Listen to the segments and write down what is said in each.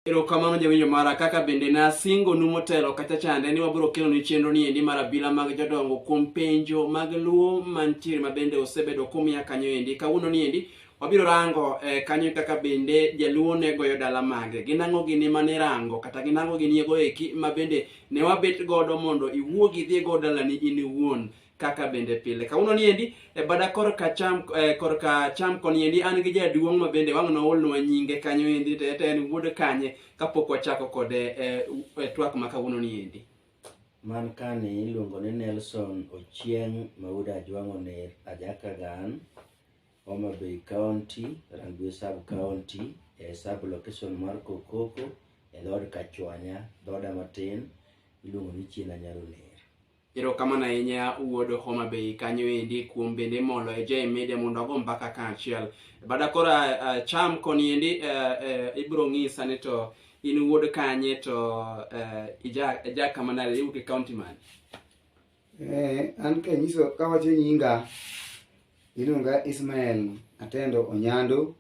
Erokamano jawinjo mara kaka bende nasingonu motelo kacha chande ni wabiro kelonu chenro ni endi mar abila mag jodongo kuom penjo mag luo mantiere ma bende osebedo kumiya kanyo endi kawuono ni endi wabiro rango eh, kanyo kaka bende jaluo ne goyo dala mage gin ang'o gini ma nirango kata gin ang'o gini ego eki ma bende ne wabet godo mondo iwuogi idhi go dalani in iwuon kaka bende pile kawuono ni endi e bada korka cham eh, korka cham koni endi an gi jaduong' ma bende wang' noolnwa nyinge kanyo endi to ete en wuod kanye kapok wachako kode eh, u- eh, twak ma kawuono ni endi Man kani iluongo ni Nelson Ochieng Mauda Ajwang'o Ner Ajakagan, Homa Bay County, Rangwe Sub County, e sub location mar Kokoko, e dhood Kachwanya, dhoda matin, iluongo ni Chiena Nyaro Ner. Erokamano ahinya wuod Homa Bay kanyo endi kuom bende molo e J Media mondo ago mbaka kaachiel. Bada koro uh, cham koni endi uh, uh, ibiro ng'isa ni to in wuod kanye to uh, ija, ija kama nade iwuok e county man. Eh, an kanyiso kawacho nyinga iluonga Ismael Atendo Onyando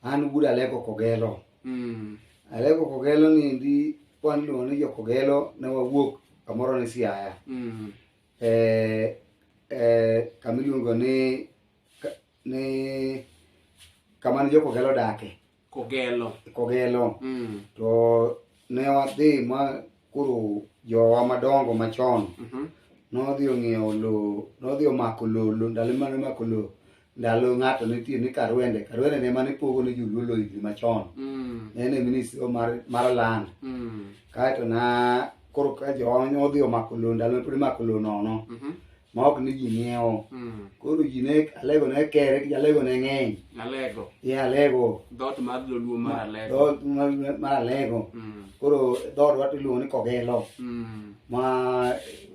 An wuod Aleko Kogelo. Mm. Aleko Kogelo ni ndi wan iluongo ni jo Kogelo ne wawuok kamoro ni Siaya. Mm. Eh, eh, kama iluongo ni ka- ni kama ne jo Kogelo dake. Kogelo. Kogelo. Mm. To Ne wadhi ma koro jowa madongo machon mhm. nodhi ong'iewo lowo nodhi omako lowo lo, ndalo mane omako lowo ndalo ng'ato nitie ni karwende karwende ne mane pogo ne joluo lowo higni machon mm. ne en e ministry mar, mar land mm. kaeto na koro ka jowa odhi omako lowo ndalo pod imako lowo nono mm -hmm. ma ok ni ji ng'iewo Mm. koro ji ne alego ne kere ki alego ne ng'eny Alego. e alego Dhoot mar Joluo mar Alego. dhood mar- mar alego Mm. koro dhood wato iluongo ni kogelo Mm. ma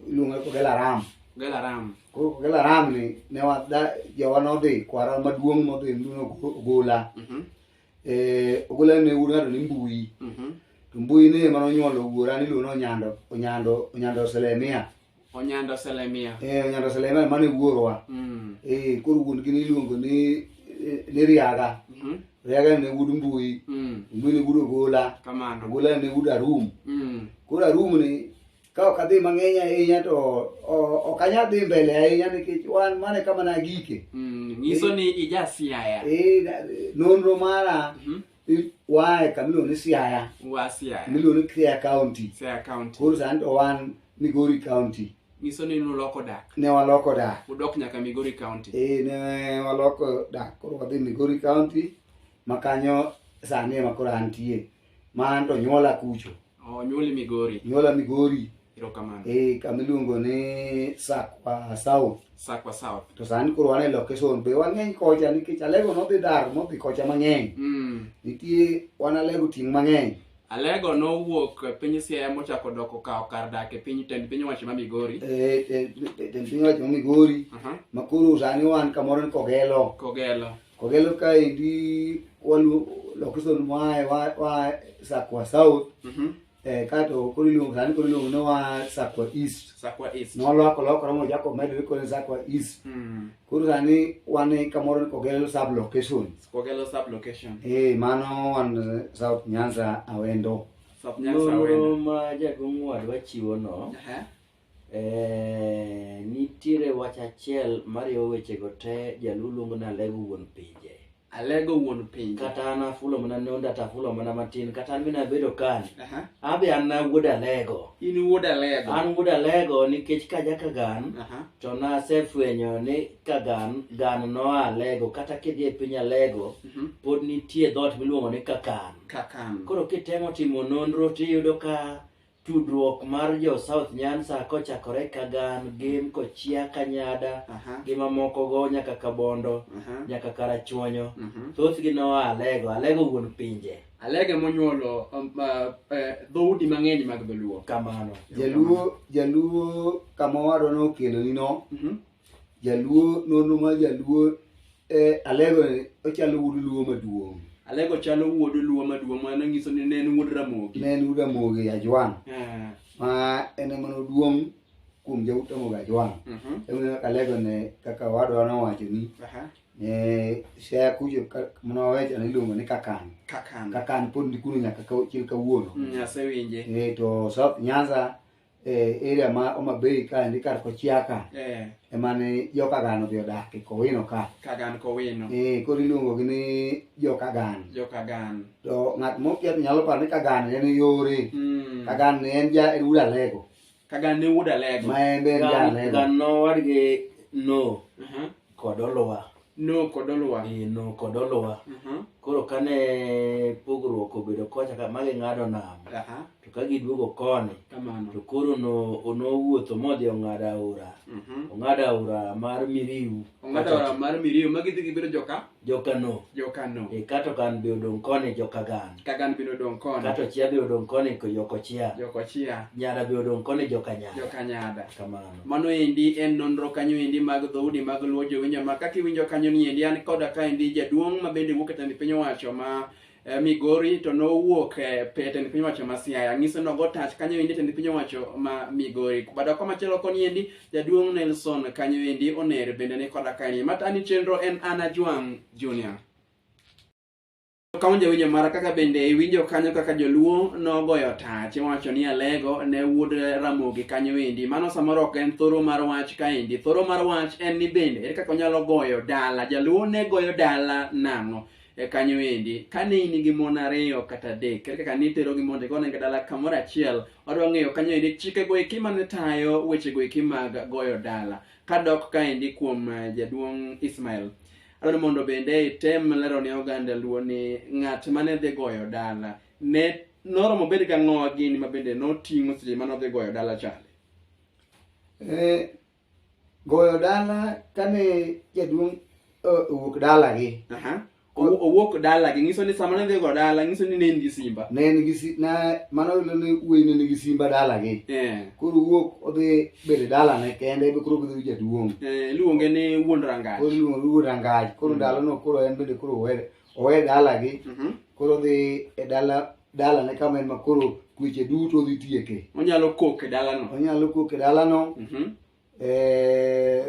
iluongo ni kogelo aram Gel aram. koro kogelo aram ni ne wada jowa nodhi kwara maduong' modhi nduno ogola Mhm. Eh, ogola ne wuod ng'ato ni mbui Mhm. to mbui ne ema nonyuolo wuora niluongo ni onyando onyando onyando selemia Onyando Selemia. Eh, Onyando Selemia mane wuorwa. Mm. Eh, koro wuon gi niluongo ni eh, ni Riaga. Mm -hmm. Riaga ne wuod Mbui. Mm. Mbui ne wuod Ogola. Kamano. Ogola ne wuod Arum. Mm. Koro Arum ni ka ok adhi mang'eny ahinya to ok anyal dhi mbele ahinya nikech wan mane kama nagike mm, nyiso ni ija siaya eh, nonro mara mhm. I- waa e kama iluongo ni siaya wa Siaya, kama iluongo ni Siaya county Siaya County. koro sani to wan migori county Nyiso ni nuloko dak. ne waloko dak Udok nyaka Migori County. e ne waloko dak koro wadhi migori county ma kanyo sani ema koro antie ma an to nyuola kucho Oh, nyuoli Migori. Nyuola Migori. Erokamano. Eh, kama iluongo ni Sakwa South. Sakwa South. To sani koro wan e location be wang'eny kocha nikech Alego nodhi dar modhi kocha mang'eny. Mm. Nitie wan Alego ting' mang'eny. Alego nowuok e piny Siaya mochako doko kawo kar dak e piny tend piny owacho ma Migori. Eh, eh, tend piny owacho ma Migori. Aha. Ma koro sani wan kamoro ni Kogelo. Kogelo. Kogelo kaendi walu location mwae wa, wa Sakwa South Mhm. eh, kato koro iluongo sani koro iluongo ni wa Sakwa East Sakwa East. noloko lokore mochako medore koro ni Sakwa East Mm. koro sani wan e kamoro ni Kogelo sub location Kogelo sub location. eh mano wan eh, South Nyanza Awendo South Nyanza Nonro Awendo. ma jaduong' wadwa chiwono Aha. Eh, nitiere wach achiel mariwo wechego te jaluo luongo ni alego wuon pinje alego wuon pinje kata an afulo mana nonda to afulo mana matin kata an mina bedo kani Aha. abi an na wuod alego in wuod alego an wuod alego nikech kaja kagan Aha. to nasefwenyo ni kagan gan noa alego kata kidhi e piny alego Mhm. pod nitie dhoot miluongo ni kakan kakan koro kitemo timo nonro tiyudo ka tudruok mar jo south nyansa kochakore kagan gem kochia kanyada Aha. gi mamokogo nyaka kabondo Aha. nyaka karachuonyo Mhm. thothgi noa alego alego wuon pinje alege monyuolo um, uh, eh, dhoudi mang'eny mag dholuo kamano jaluo jaluo kama owadwa nokeloni no Mhm. Jaluo nonro mar jaluo eh, alego ni ochalo wuod luo maduong' Alego chalo wuod luo maduong' mano nyiso ni ne en wuod Ramogi. ne en wuod Ramogi Ajwang' Ah, ma en ema noduong' kuom jaut Ramogi Ajwang' mhm, emomiyo alego ne kaka wadwa nowacho ni aha, ne sea kucho ka- mane wawecho ne iluongo ni kakan Kakan. kakan pod ni kuno nyaka ka- chil kawuono Mm, asewinje. Eh, to South Nyanza eh, area ma Homa Bay ka ndi kar Kochiaka Eh, ema ne jokagano odhi odak e Kowino ka Kagan Kowino. Eh, koro iluongogi ni jokagan Jo Kagan. to ng'at mokia to nyalo paro ni kagan ne en yore Mm. kagan ne en ja en wuod alego Kagan ne wuod Alego. ma en be en ja Gan alego gan nowadgi no Aha. kod oluwa no kod oluwa eh, no kod oluwa uh mhm. -huh. koro kane pogruok obedo kocha ka magi ng'ado nam uh -huh. to ka giduogo koni to koro no nowuotho modhi ong'ado aora uh mhm. -huh. ong'ado aora mar miriu ong'ado aora mar miriu ma gidhi gibedo joka joka no joka no e kato kan be odong koni joka gan ka gan be odong koni kato chia be odong koni ko yoko chia yoko chia nyada be odong koni joka nyada joka nyada kamano Mano endi en nonro kanyo endi mag dhoudi mag luo jowinjo ma kaka iwinjo kanyo ni endi an koda ka endi jaduong' ma bende wuok e tend piny owacho ma eh, Migori to nowuok eh, pe- tend piny owacho ma Siaya ng'iso nogo tach kanyo endi tend piny owacho ma Migori bada kwa machielo koni endi jaduong' Nelson kanyo endi oner bende ni koda ka endi matani chenro en Ana Juang' Junior Ka unja winjo mara kaka bende iwinjo kanyo kaka joluo nogoyo tach iwacho ni alego ne wuod ramogi kanyo endi mano samoro ok en thoro mar wach kaendi thoro mar wach en ni bende ere kaka onyalo goyo dala jaluo ne goyo dala nang'o e kanyo endi kane in gi mon ariyo kata adek ere kaka nitero gi mondo igone gi dala kamoro achiel wadwa ng'eyo kanyo endi chike go eki mane tayo weche go eki mag goyo dala kadok kaendi kuom eh, jaduong' Ismail Adwaro mondo bende item lero ne oganda Luo ni ng'at mane dhi goyo dala ne noromo bedo ka ng'owa gini ma bende noting'o seche mane odhi goyo dala chande. Eh, goyo dala kane jaduong' eh, owuok dalagi Aha. Owu- Owuok dala gi nyiso ni sama ne dhi goyo dala nyiso ni ne in gi simba. ne en gi si- na mano ne wuoyi ne nigi simba dalagi Eh. koro wuok odhi bede dalane kende be koro bedo jaduong' eh, iluonge ni wuon rangach koro iluonge ni wuon rangach koro mm. ndalono koro en bende koro owe dalagi mm-hmm. koro dhi e dala dalane kama en ma koro kweche duto dhi tieke onyalo kok e dalano onyalo kok e dalano mm-hmm. eh,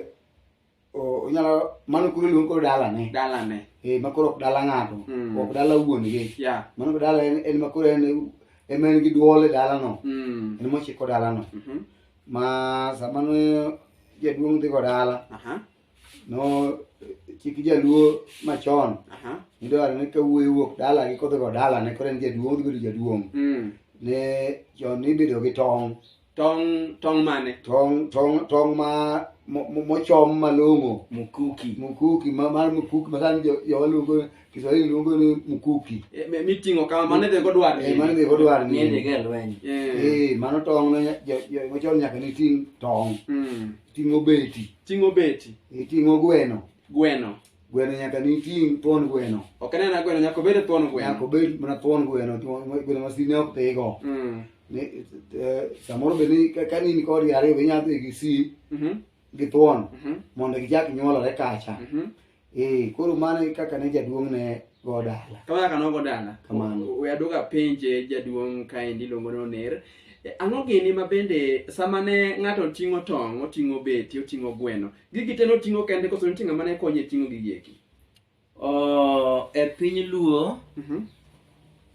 onyalo mano koro iluongo koro dalane dalane eh makoro ok dala ng'ato mm. ok dala wuon gi yeah. mano koro dala en, en makoro en ema en gi duol e dalano mm. en mochiko dalano mm -hmm. ma sama ne jaduong' dhigo dala uh -huh. no chik jaluo machon uh -huh. nidwaro ni kawuoyi wuok dala gi kodhigo dalane koro en jaduong' odhibedo jaduong' mm. ne chon nibedo gi tong' tong' tong' mane tong tong tong ma mo- mo- mochom malong'o mukuki mkuki ma- mar mkuki masani jo- jowa luongo kiswahili luongo ni mkuki Eh, mi- miting'o kama mane dhego dwar Eh, mano be odwar ni Ng'e dhige lweny. Eh, Eh, mano tong no nya- jo- jo- mochom nyaka ni ting' tong mm. ting'o beti ting'o beti iting'o gweno gweno Gweno nyaka ni ting' thuon gweno. Ok en aena gweno, nyaka obed thuon gweno. Nyaka obed mana thuon gweno, thuon- gweno ma sime ok dhigo. Mm. Ni, eh, Samoro be ni ka- ka in kodgi ariyo be inyalo dhi gi si Mhm. gi thuon Mhm. mondo gichak nyuolore kacha. Mhm. Eh, koro mano e kaka ne jaduong' ne go dala. Kama kaka nogo dala. Kamano. We aduoga penje jaduong' kaendi iluongo ni Oner. Eh, Ang'o gini ma bende sama ne ng'ato ting'o tong', oting'o beti, oting'o gweno, Gigi te noting'o kende koso nitie ng'ama ne konye ting'o gigi eki? Oh, e piny luo Mhm.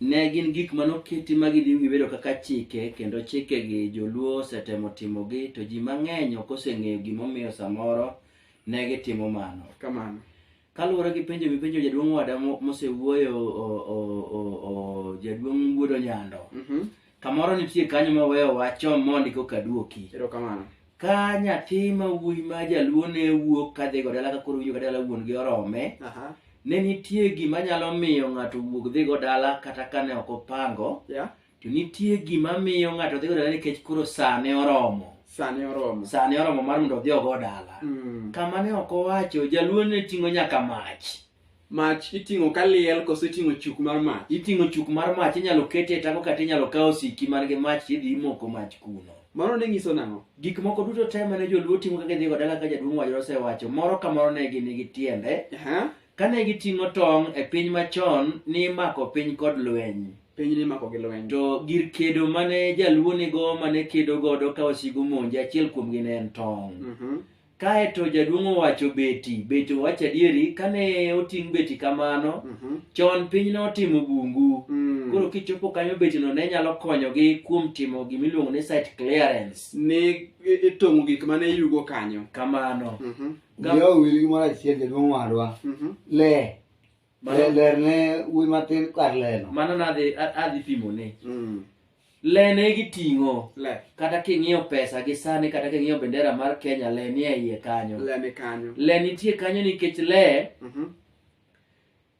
ne gin gik mane oketi ma gidhi gibedo kaka chike kendo chikegi joluo osetemo timogi to ji mang'eny ok oseng'eyo gimomiyo samoro ne gitimo mano Kamano. Kaluwore gi penjo mipenjo jaduong' wada mosewuoyo jaduong' Wuodo Nyando, mhm. kamoro nitie kanyo ma weyo wacho mondi koka duoki. Erokamano. Ka nyathi ma wuoyi ma jaluo ne wuok kadhi go dala ka koro winjo ka dala wuon gi orome, ne nitie gima nyalo miyo ng'ato wuog dhi go dala kata kane ok opango. To nitie gima miyo ng'ato dhi godala nikech koro sane oromo. Sane oromo. Sane oromo mar mondo odhi ogo dala. Mm. Kama ne ok owacho, jaluo ne ting'o nyaka mach. Mach iting'o ka liel koso iting'o chuk mar mach? Iting'o chuk mar mach, inyalo kete e tako kata inyalo kawo siki man gi mach tidhi imoko mach kuno. Mano ne nyiso nang'o? Gik moko duto te mane joluo timo ka gidhi godala ka jaduong' wacho osewacho, moro ka moro ne gin gi tiende. Uh -huh. Kane giting'o tong' e piny machon nimako piny kod lweny. Piny nimako gi lweny. To gir kedo mane jaluo nigo mane kedo godo ka wasigu monje achiel kuomgi ne en tong'. Mm -hmm. Kae to jaduong' owacho beti, beti owacho adieri, kane oting' beti kamano, mm -hmm. chon piny notimo bungu. Mm. Koro kichopo kanyo betino ne nyalo konyogi kuom timo gima iluongo ni site clearance. Ni itong'o gik mane yugo kanyo. Kamano. Mm -hmm. Miyo owil gimoro achiel jaduong' wadwa. Mhm. Le. Mano- Le- Ler ne wuoyi matin kar leno. mano nadhi a- adhi pimone Mm. le ne giting'o Le. kata king'iyo pesa gi sani kata king'iyo bendera mar kenya le nie iye kanyo Le ni kanyo. le nitie kanyo nikech le Mhm.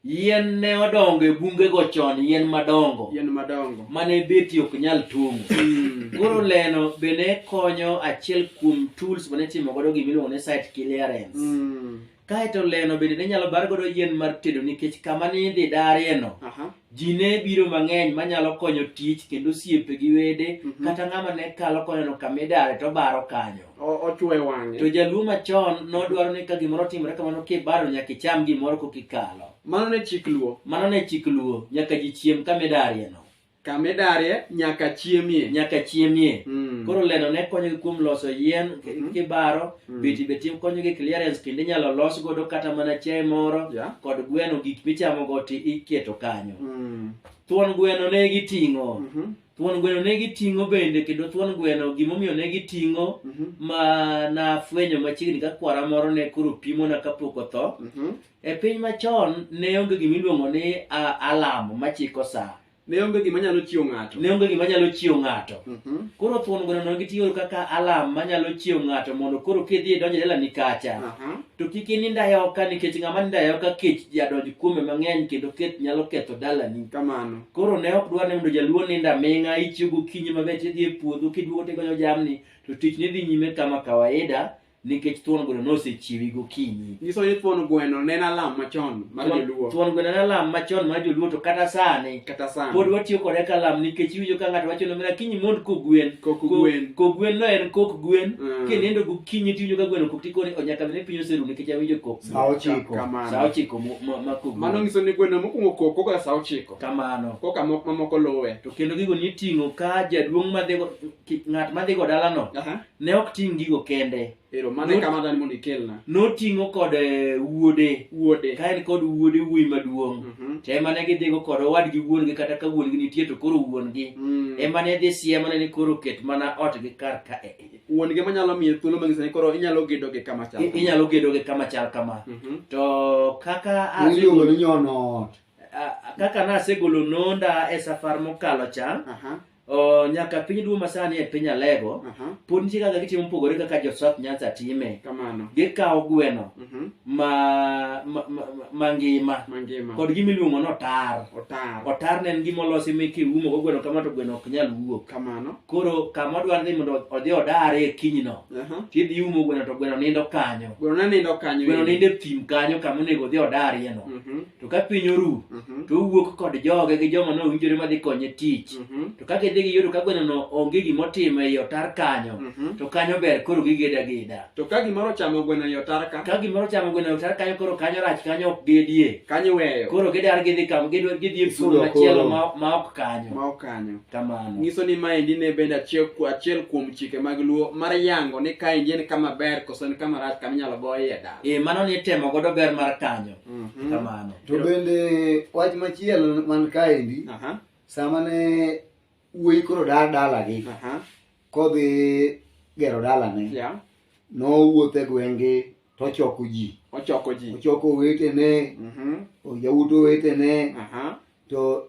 Yien ne odongo e bungego chon, yien madongo. Yien madongo. Mane beti ok nyal tung'. Hmm. Koro leno be ne konyo achiel kuom tools mane timo godo gima iluongo ni site clearance. Hmm. Kaeto leno bende ne nyalo bar godo yien mar tedo nikech kama ni idhi darieno. Aha. Ji ne biro mang'eny manyalo konyo tich kendo osiepe gi wede mhm. kata ng'ama ne kalo koneno kama idare to baro kanyo. o- ochwe to wang'e jaluo machon nodwaro ni ka gimoro otimore kamano kibaro nyaka icham gimoro kokikalo mano ne chik luo mano ne chik luo nyaka ji chiem kamidarieno kamidarie nyaka chiemie nyaka chiemie Mm. koro leno ne konyogi kuom loso yien k- Mhm. kibaro Mm. biti be tim konyogi clearance kendo inyalo los godo kata mana chiaye moro Yeah. kod gweno gik michamogo ti iketo kanyo Mm. thuon gweno ne giting'o Mhm. Thuon gweno ne giting'o bende kendo thuon gweno gimomiyo ne giting'o mm -hmm. ma nafwenyo machiegni ka kwara moro ne koro pimona kapok otho mm -hmm. e piny machon ne onge gima iluongo ni alam machiko saa ne onge gima nyalo chiwo ng'ato ne onge gima nyalo chiwo ng'ato mm -hmm. koro thuon gweno no gitiyo kaka alam manyalo chiwo ng'ato mondo koro kidhi idonj e dalani kacha uh -huh. to kik ininda e oka nikech ng'ama ninda e oka kech jadonj kuome mang'eny kendo keth nyalo ketho dalani kamano koro ne ok dwa ni mondo jaluo nind aming'a ichiew gokinyi maber tidhi e puodho kiduogo tigonyo jamni to tich ni dhi nyime kama kawaida nikech thuon gweno nosechiewi gokinyi nyiso ni thuon gweno ne en alam machon mar Thuon- joluo thuon gweno en alam machon mar joluo to kata sani kata sani pod watiyo kode ka alam nikech iwinjo ka ng'ato wacho ni omera kinyi mond kogwen Kok Ko- gwen. kogwen no en kok gwen Mm. kinindo gokinyi tiwinjo ka gweno kok tikoni onyaka bed ni piny oseru nikech awinjo kok Saa ochiko. Kamano. Saa ochiko mo- mo- mako gol. Mano nyiso ni gweno mokwongo kok koka saa ochiko. Kamano. Koka mok- mamoko luwe. To kendo gigo niting'o ka jaduong' madhigo ki- ng'at madhigo dalano Aha. ne ok ting' gigo kende. Ero mano e Not- kama dani mondo ikelna. Noting'o kod eh, wuode. Wuode. Ka en kod wuode wuoyi maduong'. Mhm. To ema ne gidhigo kod owadgi wuon-gi kata ka wuon-gi nitie to koro wuon-gi. Mm. Ema ne dhi siemone ni koro ket mana otgi kar ka. wuon gi manyalo miye thuolo mang'ise ni koro inyalo gedo gi kama chal I- inyalo gedo gi kama chal kama Mhm. to kaka a- Iluongo ni nyono ot. a- kaka nasegolo nonda e safar mokalo cha Aha, o, nyaka piny duong' masani e piny alego aha, pod nitie kaka gitimo mopogore kaka josaf nyanza time kamano gikawo gweno Mhm. ma- ma- ma- mangima mangima kod gima iluongo ni otar otar otar ne en gima olosi mi kiumo go gweno kama to gweno ok nyal wuok kamano koro kama odwaro ni mondo odhi odare e kinyno Aha. tidhi iumo gweno to gweno nindo kanyo Gweno ne nindo kanyo. gweno nindo e thim kanyo kama onego odhi odarieno Mhm, to ka piny oru mhm, to owuok kod joge gi joma nowinjore madhi konye tich mhm, to kaka idhi gi yodo ka gwenono onge gimotimo ei otar kanyo mhm. to kanyo ber koro gigeda ageda To ka gimoro ochamo gweno e otar ka, ka gimoro chamo gweno e otar kanyo koro kanyo rach kanyo ok gedie kanyo iweyo. koro gidar gidhi kam gidwa gidhi e pur Sudo machielo koro. ma ma ok kanyo Ma ok kanyo. kamano nyiso ni maendi ne bende achiel, ku- achiel kuom chike mag luo mar yango ni kaendi en kama ber koso en kama rach kama inyalo goye dala e mano ni itemo godo ber mar kanyo Mhm. kamano to bende wach machielo man kaendi Aha, sama ne wuoyi koro dar dalagi aha, kodhi gero dalane yeah. nowuotho e gwenge tochoko ji ochoko ji ochoko owetene Mhm, oyawuto owetene aha. to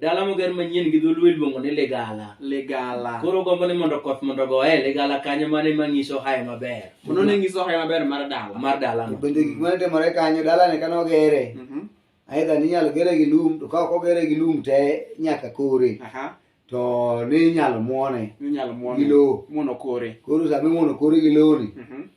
Dala moger manyien gi dholuo iluongo ni Ligala. Ligala. Koro gombo ni mondo koth mondo goye Ligala kanyo mane manyiso hae maber. Mano ne nyiso hae maber mar dala. Mar dala. To bende gik mane timore kanyo dala ne kano gere. Mhm. Mm Aidha ni nyalo gere gi lum to ka ok ogere gi lum te nyaka kore. Aha. To ni nyalo muone. Ni nyalo muone. Gi lowo. Muono kore. Koro sami muono kore gi lowo ni. Mhm. Mm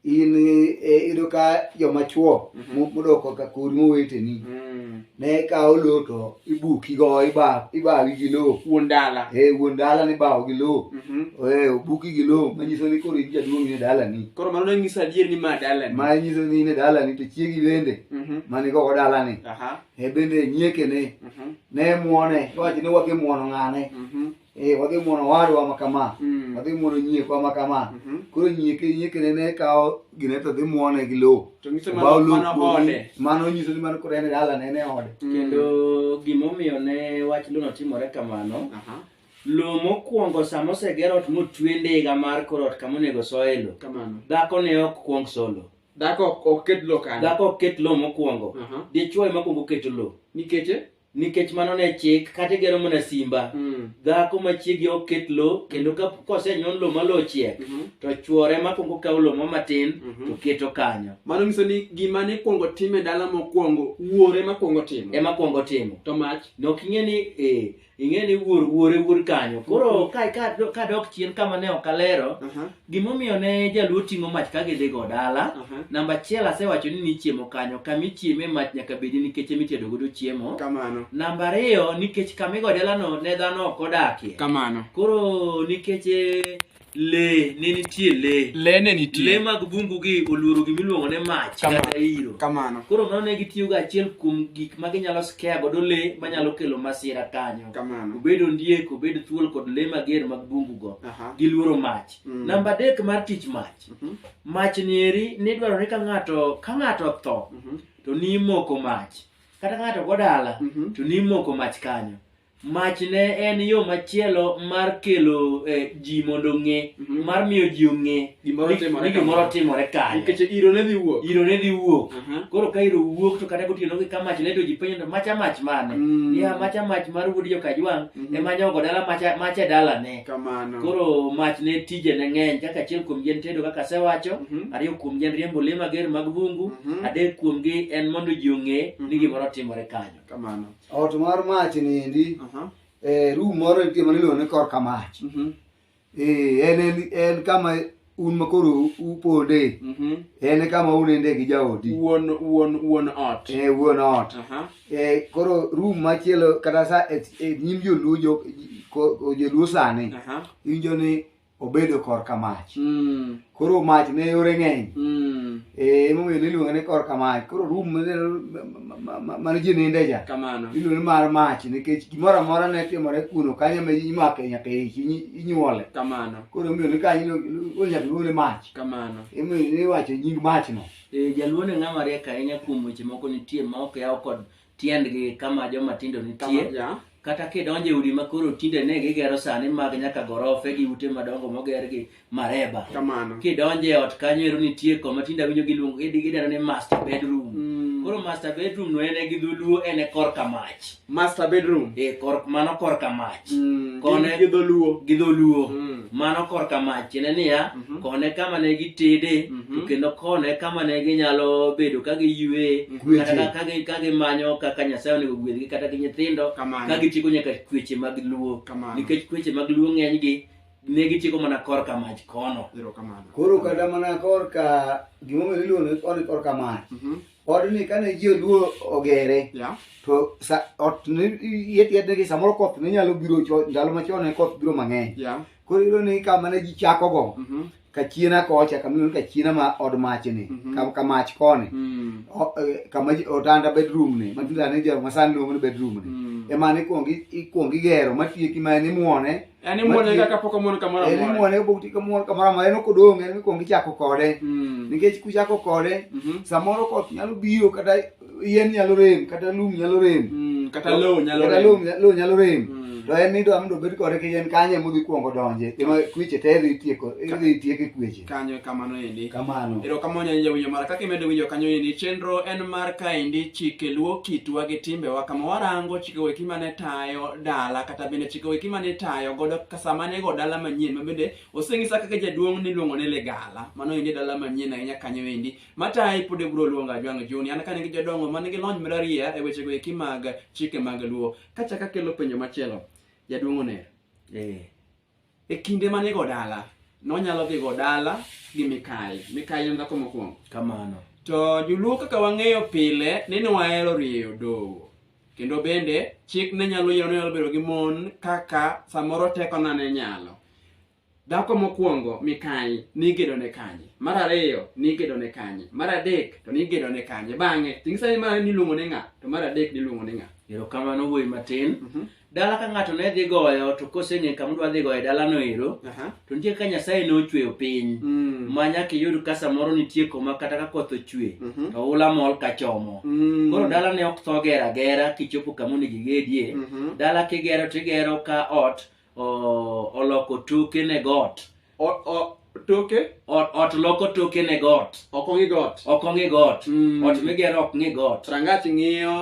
in eh, iyudo ka joma chuo Mhm. mo- modoko ka kod moweteni Mm. ne kawo lo to ibuki go iba- ibawi gi lo Wuon dala. e wuon dala ni bawo gi lo Mhm. e obuki gi lo manyiso ni koro in jaduong' ne dalani Koro mano ne nyiso adier ni ma dala ni. ma nyiso ni ne dalani to chiegi bende Mhm. mane go dalani Aha. e bende nyiekene Mhm. ne muone wacho ni wake muono ng'ane Mhm. e wadhi muono owadwa ma kama Mm. wadhi muono nyiekwa ma kama Mhm. koro nyieke nyiekene ne kawo gine to dhi muone gi lowo To nyiso Obawo mano lowo mano kuome. ode. mano nyiso ni mano koro en e dalane en e ode Mm. kendo gimomiyo ne wach lono timore kamano Aha. lo mokwongo sama oseger ot motwe ndiga mar kor ot kama onego soye lo Kamano. dhako ne ok kwong solo Dhako ok- ok ket lo kanyo. dhako ok ket lo mokwongo Aha. dichwo ema kwongo keto lo Nikech eh? nikech mano ne chik kata igero mana simba Mm. dhako machiegi ok ket lo kendo ka kosenyon lo malo ochiek Mhm. to chwore makwongo kawo lo mo matin Mhm. to keto kanyo mano nyiso ni gima ne kwongo time dala mokwongo wuore ma kwongo timo ema kwongo timo to mach nok ing'e ni eh, ing'e ni wuor wuore wuor kanyo koro ka- ka- kadok chien kama ne ok alero Aha. Gimomiyo ne jaluo ting'o mach ka gidhigo dala, Aha. namba achiel asewacho ni nichiemo kanyo, kama ichieme mach nyaka bedi nikech ema itedo godo chiemo. Kamano. Namba ariyo nikech kama igo dalano ne dhano ok odakie. Kamano. Koro nikech eh, le ne nitie le. Le ne Le nitie. mag bungu gi oluoro gima iluongo ni mach Kama- kata iro. Kamano. Koro mano ne gitiyogo achiel kuom gik ma ginyalo scare godo le manyalo kelo masira kanyo. Kamano. Obed ondiek, obed thuol kod le mager mag bungu go. Aha. gi luoro mach Mm. namba adek mar tich mach Mhm. mach nieri nidwaro ni ka ng'ato ka ng'ato tho Mhm. to nimoko mach kata ng'ato go dala Mhm. to nimoko mach kanyo mach ne en yo machielo mar kelo eh, ji mondo ong'e Mhm. mar miyo ji ong'e Gimoro ni- timore ni gimoro kama. timore kanyo Nikech iro ne dhi wuok. iro ne dhi wuok Aha. koro ka iro wuok to kata gotieno gi ka mach ne to ji penjo to macha mach mane Mm. ya macha mach mar wuod jokajwang' Mhm. ema nyogo dala macha macha dalane Kamano. Koro mach ne tije ne ng'eny kaka achiel kuom gi en tedo kaka asewacho, Mhm. ariyo kuom gi en riembo le mager mag bungu, Mhm. adek kuom gi en mondo ji ong'e ni Mhm. gimoro timore kanyo. Kamano. Ot mar mach niendi, Aha. eh, room moro nitie maniluongo ni korka mach. Mhm. Eh, en, en, en kama un ma koro uponde Mhm. en e kama uninde gi jaodi Wuon wuon wuon ot. e wuon ot Aha. e koro room machielo kata sa e e nyim joluo jo- ko- joluo sani Aha. iwinjo ni obedo korka mach Mm. koro mach ne yore ng'eny Mm. e emomiyo niluonge ni korka mach koro room mane- ma- ma- ma- mane ji ninde ja Kamano. iluonge ni mar mach nikech gimoro amora ne timore kuno kanyo ma imake nyaka ich inyi- inyuole Kamano. koro omiyo ni kanyo onyaka gole mach kamano emoyo iwacho nying mach no e jaluo ne ng'ama riek ahinya kuom weche moko nitie ma ok yaw kod tiendgi kama joma tindo nitie kata kidonjo e udi ma koro tinde ne gigero sani mag nyaka gorofe gi ute madongo moger gi mareba kamano kidonjo e ot kanyo ero nitie koma tinde awinjo giluongo gideno ni master bedroom mm. koro master bedroom no en e gi dholuo en e korka mach master bedroom e kor mano kor ka mach mm, kone gi dholuo gi dholuo mm. mano kor ka mach ne niya mm -hmm. kone kama ne gi tede mm -hmm. kendo kone kama ne gi nyalo bedo ka gi yue mm -hmm. kata ka gi ka gi manyo kaka nyasaye onego gwedgi kata gi nyithindo ka gi chiko nyaka kweche mag luo nikech kweche mag luo ng'eny gi ne gi chiko mana kor ka mach kono koro kata mana kor ka gimomiyo iluongo ni kor ka mach mm -hmm. odni kane ji oluo ogere Yeah. to sa- ot yetiyetnegi samoro koth ne nyalo biro cho- ndalo machon ne koth biro mang'eny Yeah. koro iyudo ni kama ne ji chakogo Mhm. kachiena kocha kamiyudo kachiena ma od machni Mhm. ka- ka mach koni Mm. O- eh, kama ji- otanda bedroom ni matindane jaro masani luongo ni bedroom ni Mm. ema ne ikwongi- ikwongi gero matieki ma en imuone En imuonyo Matiyo- kaka pok omuon kamoro en amora. imuone kapok ti kamuon kamoro amora en ok odong' en mikwongo ichako kode Mm. nikech kuchako kode Mhm. samoro koth nyalo biro kata yien nyalo rem kata lum nyalo rem Mm, Kata lowo nyalo kata rem. lum nya- lowo nyalo rem Mm. to en nidwa mondo obed kode kiyien kanye modhi kwongo donje ema kweche te idhi tieko idhi tieke kweche kanyo kamano endi kamano erokamano nyanya jawinjo mara kaka imedo winjo kanyo endi chenro en mar kaendi chike luo kitwa gi timbewa kama warango chike weki mane tayo dala kata bende chike weki mane tayo godo kasama ne go dala manyien mabende oseng'isa kaka jaduong' niluongo ni ligala mano endi dala manyien ahinya kanyo endi matayi pod ibro luonga jwang' juni an kane gi jodongo man gi lony mararia e wechego eki mag chike mag luo kachaka kelo penjo machielo jaduong' oner eh. E kinde ma nigo dala, nonyalo dhigo dala gi mikayi. Mikayi en dhako mokwongo. Kamano. To joluo kaka wang'eyo pile ni nwahero rieyo dowo. Kendo bende chik ne nyalo yiero ni nyalo bedo gi mon kaka samoro tekona ne nyalo. Dhako mokwongo mikayi nigedo ne kanye? Mar ariyo nigedo ne kanye? Mar adek to nigedo ne kanye? Bang'e, tingisa ni mar ariyo niluongo ni ng'a? To mar adek niluongo ni ng'a? Erokamano wuoyi matin. dala ka ng'ato ne dhi goyo to koseng'e kama dwa dhi goye dalano ero Aha. to nitie ka nyasaye ne ochweyo piny Mm. ma nyaka iyud ka samoro nitie koma kata ka koth ochwe Mhm. to ula mol ka chomo Mm. koro dala ne ok tho gera gera kichopo kama onego igedie Mhm. dala kigero tigero ka ot o- oloko toke ne got O- o- toke ot, ot loko toke ne got ok ong'i got ok ong'i got Mm. ot migero ok ng'i got rangach ng'iyo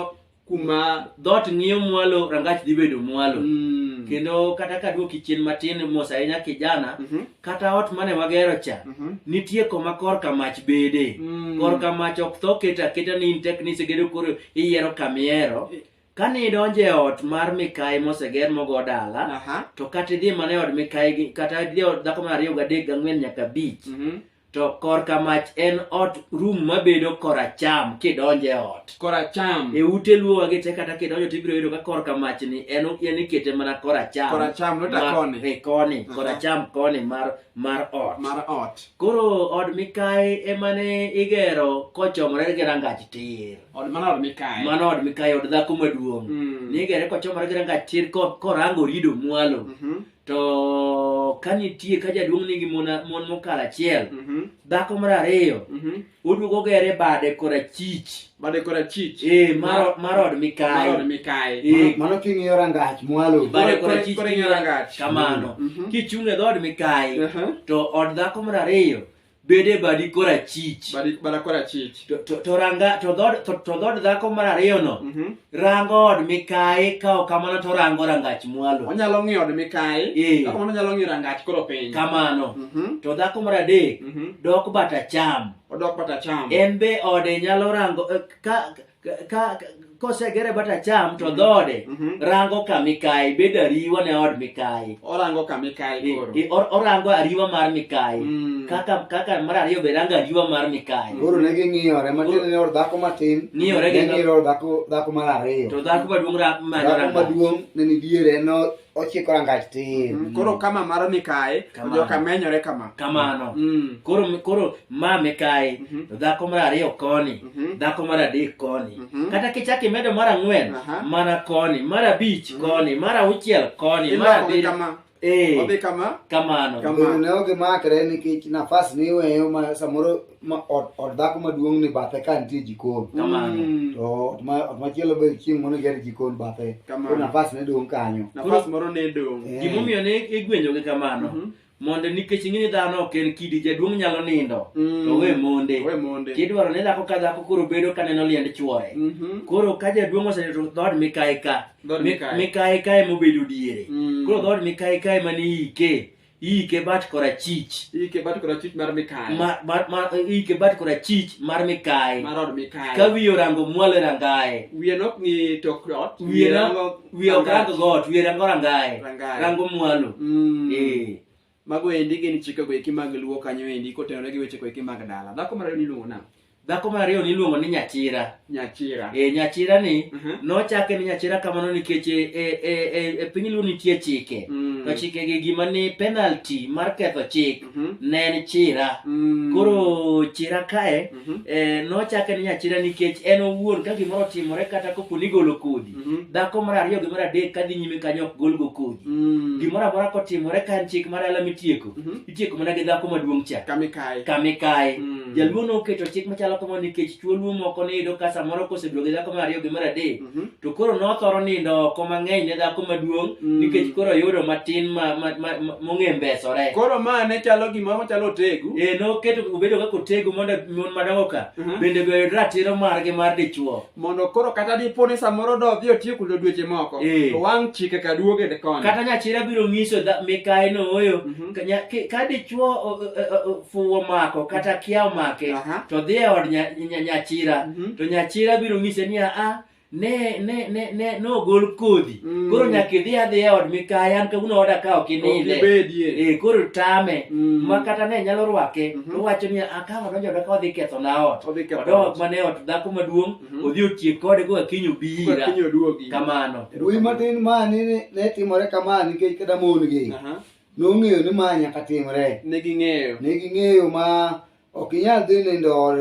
kuma dhoot ng'iyo mwalo rangach dhi bedo mwalo Mm. kendo kata ka duoki chien matin mos ahinya kijana Mhm. kata ot mane wagero cha Mhm. nitie koma korka mach bede Mm. korka mach ok tho keta aketa ni in tek ni isegedo koro iyiero kamiero kane idonjo e ot mar mikayi moseger mogo dala Aha. to kata idhi mana e od mikayi gi- kata idhi e od dhako mar ariyo gadek gang'wen nyaka abich Mhm. To korka mach en ot rum mabedo koracham kidonjo e ot. Koracham. E ute luowa gi te kata kidonjo to ibiro yudo ka korka mach ni en en ikete mana koracham. Koracham not Mar- koni. E koni, Aha. koracham koni mar mar ot. Mar ot. Koro od mikayi ema ne igero kochomore gi rangach tir. Od mana od mikayi. Mano od mikayi od dhako maduong'. Mm. Nigere kochomore gi rangach tir ko- korango rido mwalo. Mhm. to ka nitie ka jaduong' nigi mon mon mokalo achiel Mhm, dhako mar ariyo mhm. oduogo gere bade korachich Bade korachich. e mar mar od Marod mikayo Mikayi. Eh, Mano king'iyo rangach mwalo. Ba- bade Kore- korachich kore- kore ng'e rangach. kamano Mhm. kichung' e dhood mikayi Aha. to od dhako mar ariyo bed e badi korachich Badi- bada kora chich To- to to ranga to dhod to to dhod dhako mar ariyono Mhm. rango od mikayi ka ok kamano to orango rangach mwalo onyalo ng'iyo od mikayi Eh. kaka mano onyalo ng'iyo rangach koro piny kamano Mhm. to dhako mar adek Mhm. dok bata cham odok bata cham en be ode nyalo rango eh, ka ka kosegere but acham to mm-hmm. dhode mm-hmm. rango ka mikayi bedo ariwa ne od mikayi orango ka mikayi koro orango ariwa mar mikayi mm. kaka kaka mar ariyo be rango ariwa mar mikayi koro ne ging'iyore matin ne or dhako matin ng'iyore gi ng'iyore dhako dhako mar ariyo to dhako maduong' rango maduong' ne ni diere no ochiko rangach tir Mm, koro kama maro ni kae to Kamano. joka menyore kama kamano Mm, koro koro ma mikayi Mhm. to dhako mar ariyo koni Mhm. dhako mar adek koni Mhm. kata kichak imedo mar ang'wen Aha. mana koni mar abich koni mar auchiel koni mar imako gi abiriyo kama Eh, odhi kama kamano Kama. Guru ne ok makre nikech nafas ni iweyo ma samoro ma ot ot dhako maduong' ni bathe ka nitie jikon Kamano. Mm. to ot ma- ot machielo be chieng' mono ger jikon bathe Kamano. koro nafas ne dong' kanyo nafas moro ne dong' Eh. gimomiyo ne igwenyogi kamano Mhm. mondo nikech ing'e ni dhano ok en kidi jaduong' nyalo nindo Mm. to we monde we monde kidwaro ni dhako ka dhako koro bedo ka neno liend chwore Mhm. koro ka jaduong' oseyo to dhood mikayi ka Dhood Mi- mikayi. mikayi ka ema obedo diere Mm. koro dhood mikayi ka ema ne ike iike bat korachich iike bat korachich mar mikayi mar, mar, mar, iike bat korachich mar mikayi mar od mikayi ka wiye orango mwalo e rangaye wiye nok ng'i tok ot wiye rango wiye ok rango got wiye rango rangaye rango mwalo mm. eh mago endi gin chikego eki mag luo kanyo endi kotenore gi wechego eki mag dala dhako mar ariyo niluongo nang'o Dhako mar ariyo niluongo ni Nyachira. Nyachira. E, nyachira ni Mhm. nochake ni Nyachira kamano nikech e, e, e, e, e piny Luo nitie chike. Mm. To chike gi gima ni penalty mar ketho chik Mhm. ne en chira. Mm. Koro chira kae Mhm. e, nochake ni Nyachira nikech en owuon ka gimoro otimore kata kopo ni golo kodhi. Mhm. Dhako mar ariyo gi mar adek kadhi nyime kanyo ok golgo kodhi. Mm. Gimoro amora kotimore ka en chik mar ala mitieko. Mhm. itieko mana gi dhako maduong' cha kama ikaye kama ikaye Mm. jaluo noketo chik machalo kamano nikech chuo luo moko niyudo ka samoro kosebedo gi dhako mar ariyo gi mar adek Mhm. to koro nothoro nindo oko mang'eny ne dhako maduong' Mm. nikech koro yudo matin ma- ma- ma- ma- mong'e mbesore koro ma ne chalo gima ochalo otegu e noketo obedo kaka otego mondo mon madongo ka Mhm. bende be oyud ratiro margi mar dichuo mondo koro kata dipo ni samoro do dhi otiyo kulo dweche moko Eh. to wang' chike ka duoge de koni kata nyachira biro nyiso dha- mikayi nooyo Mhm. ka nya- ki- ka dichwo o- o- o- o- fuwo mako kata kia omake Aha. to dhi e od nya- nya- nyachira Mhm. to nyachira biro nyise niya a ne ne ne ne nogol kodhi Mm. koro nyaka idhi adhi e od mikaya an kawuono oda ka ok ininde Ok ibedie. Eh, koro tame Mm. ma kata ne nyalo rwake Mhm. to wacho ni akawo odonjo oda ka odhi ketho na ot Odhi ketho odok ot. mana e ot dhako maduong' Mhm. odhi otiek kode koka kiny obi Koka ira kiny oduogi. kamano Wuoyi matin ma ne ne timore kama nikech kata mon gi Aha. nong'eyo ni ma nyaka timre. Ne ging'eyo. Ne ging'eyo ma ok inyal dhi nindo od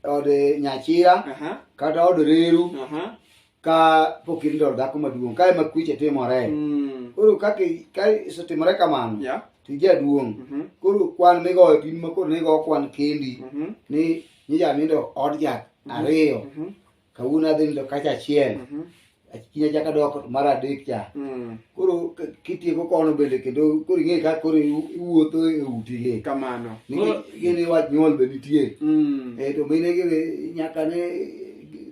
od nyachira Aha. kata od reru Aha. ka pok irindo od dhako maduong' ka ema kweche timore Mm. koro kaka ka isetimore kamano Yeah. to ijaduong' Mhm. koro kwan migoyo to in ma koro nigo kwan kendi Mhm. ni nija nindo od jat ariyo Mhm. kawuono adhi nindo kacha achiel Mhm. kinya chaka dok mar adek cha Mm. koro k- kitieko kono bende kendo koro ing'e ka koro iwu- iwuotho e utigi Kamano. nikech gini wach nyuol be nitie Mm. Eh, to mine gi nyaka ne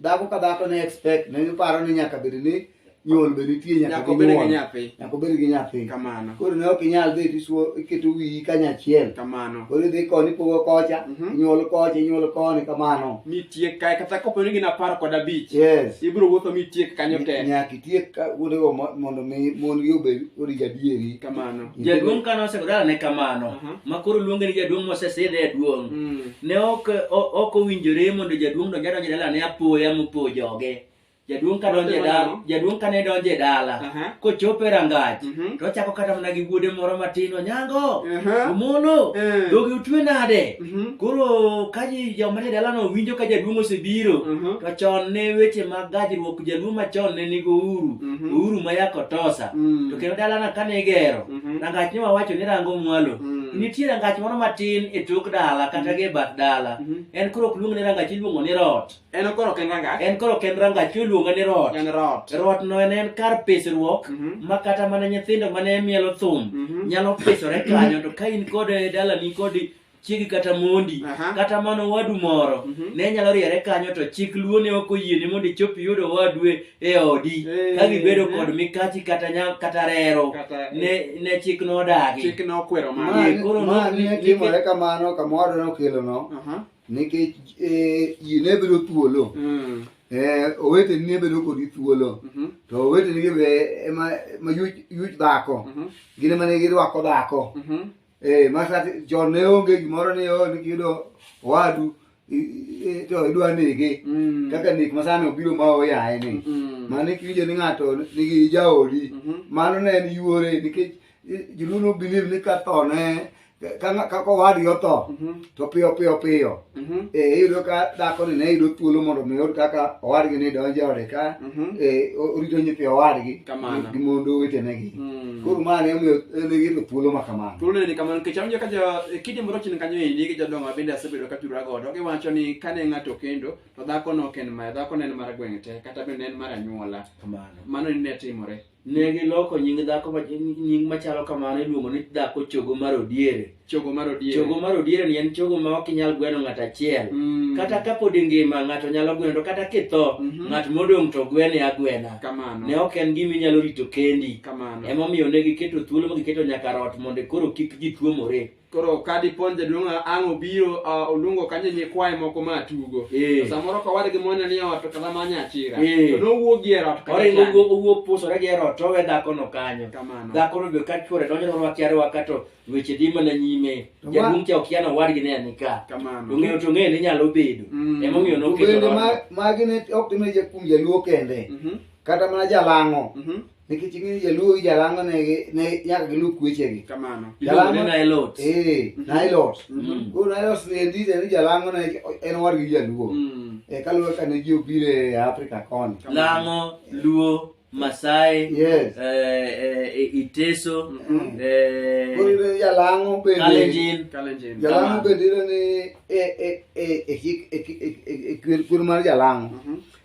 dhako ka dhako ne expect ne giparo ni nyaka bed ni nyuol be nitie nyaka Nyaka obed gi ginyuol. nyathi. nyaka obed gi nyathi Kamano. koro ne ok inyal dhi tisuo iketo wiyi kanyachiel Kamano. koro idhi koni ipogo kocha Mhm. inyuol kocha inyuol koni kamano Mitiek kae kata kopo ni gin apar kod abich. yes Ibiro wuotho mitiek kanyo te. nyaka itiek ka- kuondego mo- mondo mi mon gi obed orij adieri Kamano. Jaduong' kane osegodala ne kamano, Aha. ma koro luonge ni jaduong' mosesidhe e duong'. Mm. ne ok o- ok owinjore mondo jaduong' donj adonj e dalane apoya mopo joge jaduong' ka donjo e dala Notimo jaduong' kane donjo e dala Aha. kochopo e rangach Mhm. to ochako kata mana gi wuode moro matin onyango Aha. omolo Eh. dhogi utwe nade Mhm. koro ka ji joma nie dalano winjo ka jaduong' osebiro Mhm. to chon ne weche mag gajruok jaluo machon ne nigo uru Mhm. ouru ma yakotosa Mm. to kendo dalana kane igero Mhm. rangach ni wawacho ni rango mwalo Mm. nitie rangach moro matin e tok dala kata gi e bath dala Mhm. en koro ok luong ni rangach iluongo ni rot En okoro ken rangach. en koro ok en rangach iluongo ni rot En rot. rot no en en kar pisruok Mhm. ma kata mana nyithindo mane mielo thum Mhm. nyalo pisore kanyo to ka in kod e dalani kod chiegi kata mondi Aha. kata mana owadu moro Mhm. ne nyalo riere kanyo to chik luo ne ok oyieni mondo ichop iyud owadu e- e odi Eh. ka gibedo kod mikachi kata nya- kata rero Kata ne ne chik nodagi chik ne okwero Ma- mano. Ye, koro ma no- ne ni- timore kamano kamoro nokelono Aha. nikech eh, ji ne bedo thuolo Mm. Eh, oweteni ne bedo kodi thuolo Mhm. to oweteni gi be ema ma yuch yuch dhako Mhm. gin ema ne girwako dhako Mhm. Eh, masa chon ne onge gimoro ni oh, yudo wadu to idwa nege mm. kaka nek masani obiro ma oyaye ni mm. mane kiwinjo ni ng'ato nigi jaodi mm-hmm. mano ne en yuore nikech joluo no believe ni ka tho ne kaka owadgi otho mm-hmm. to piyo piyo piyo Mhm. eh, iyudo ka dhakoni ne yudo thuolo mondo mi oyud kaka owadgi ni donjo e ode ka Mhm. eh, o- orito nyithi owadgi Kamano. gi mondo wetenegi Mm. koro ma ne omiyo ne giyudo thuolo ma kamano Thuolo ni kamano nikech awinjo ka jo e kidi moro chien kanyo endi gi jodongo ma bende asebedo ka tudora godo giwacho ni kane ng'ato kendo to dhakono ok en mare dhakono en mar gweng' te kata bende en mar anyuola Kamano. mano ni ne timore Ne giloko nying dhako ma- nying machalo kamano iluongo ni dhako chogo mar odiere. chogo mar odier Chogo mar odiere ni en chogo ma ok inyal gweno ng'ato achiel. Mm. Kata ka pod ingima ng'ato nyalo gweno to kata kitho Mhm. ng'at modong' to gwene agwena. kamano Ne ok en gima inyalo rito kendi. kamano Emomiyo ne giketo thuolo ma giketo nyaka rot mondo koro kik ji tuomore. koro ka dipon jaduong' ang' obiro ah, oluongo kanyo nyikwaye moko ma tugo Eh. To samoro kowadgi mone ni ot kata manye achira Eh. to nowuok gi e ot kata oringo chande. owuok- owuok pusore gi ero to owe dhakono kanyo kamano dhakono be ka chwore donjo to rwakia rwaka to weche dhi mana nyime To wa- jaduong' cha okia ni owadgi ne ni ka to kamano ng'eyo to ng'eyo ni nyalo bedo Mm. emomiyo To noketo bende rwaka. ma- magi ne ok timre ja- kuom jaluo kende Mhm, kata mana jalang'o mhm, nikech ing'eyo jaluo gi jalango ne gi- ne nyaka gilu kwechegi kamano Iluongo ni Nailot. ee nailos Mm. koro nailos ni endi to en jalango ne en owadgi gi jaluo Mm. Eh, kaluwore ka ne ji obiro e afrika koni Lango, Luo, Masai, yes eh, eh, Iteso, Mhm. eh, koro iyudo ni jalango bende Kalenjin. Kalenjin. jalango bende iyudo ni e- e- e- e hik- e- e- e- e- kwer- kwer mar jalango Mhm.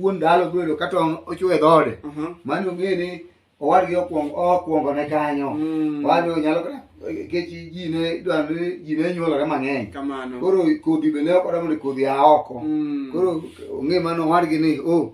wuon dalo biro yudo ka tong' ochwe dhoode Mhm. mano ong'e ni owadgi okwong- okwongo ne kanyo Mm. owadgi onyalo kata nikech ji ne idwaro ni ji ne nyuolore mang'eny Kamano. koro kodhi be ne ok odwa mondo kodhi a oko Mm. koro ong'e mano owadgi ni o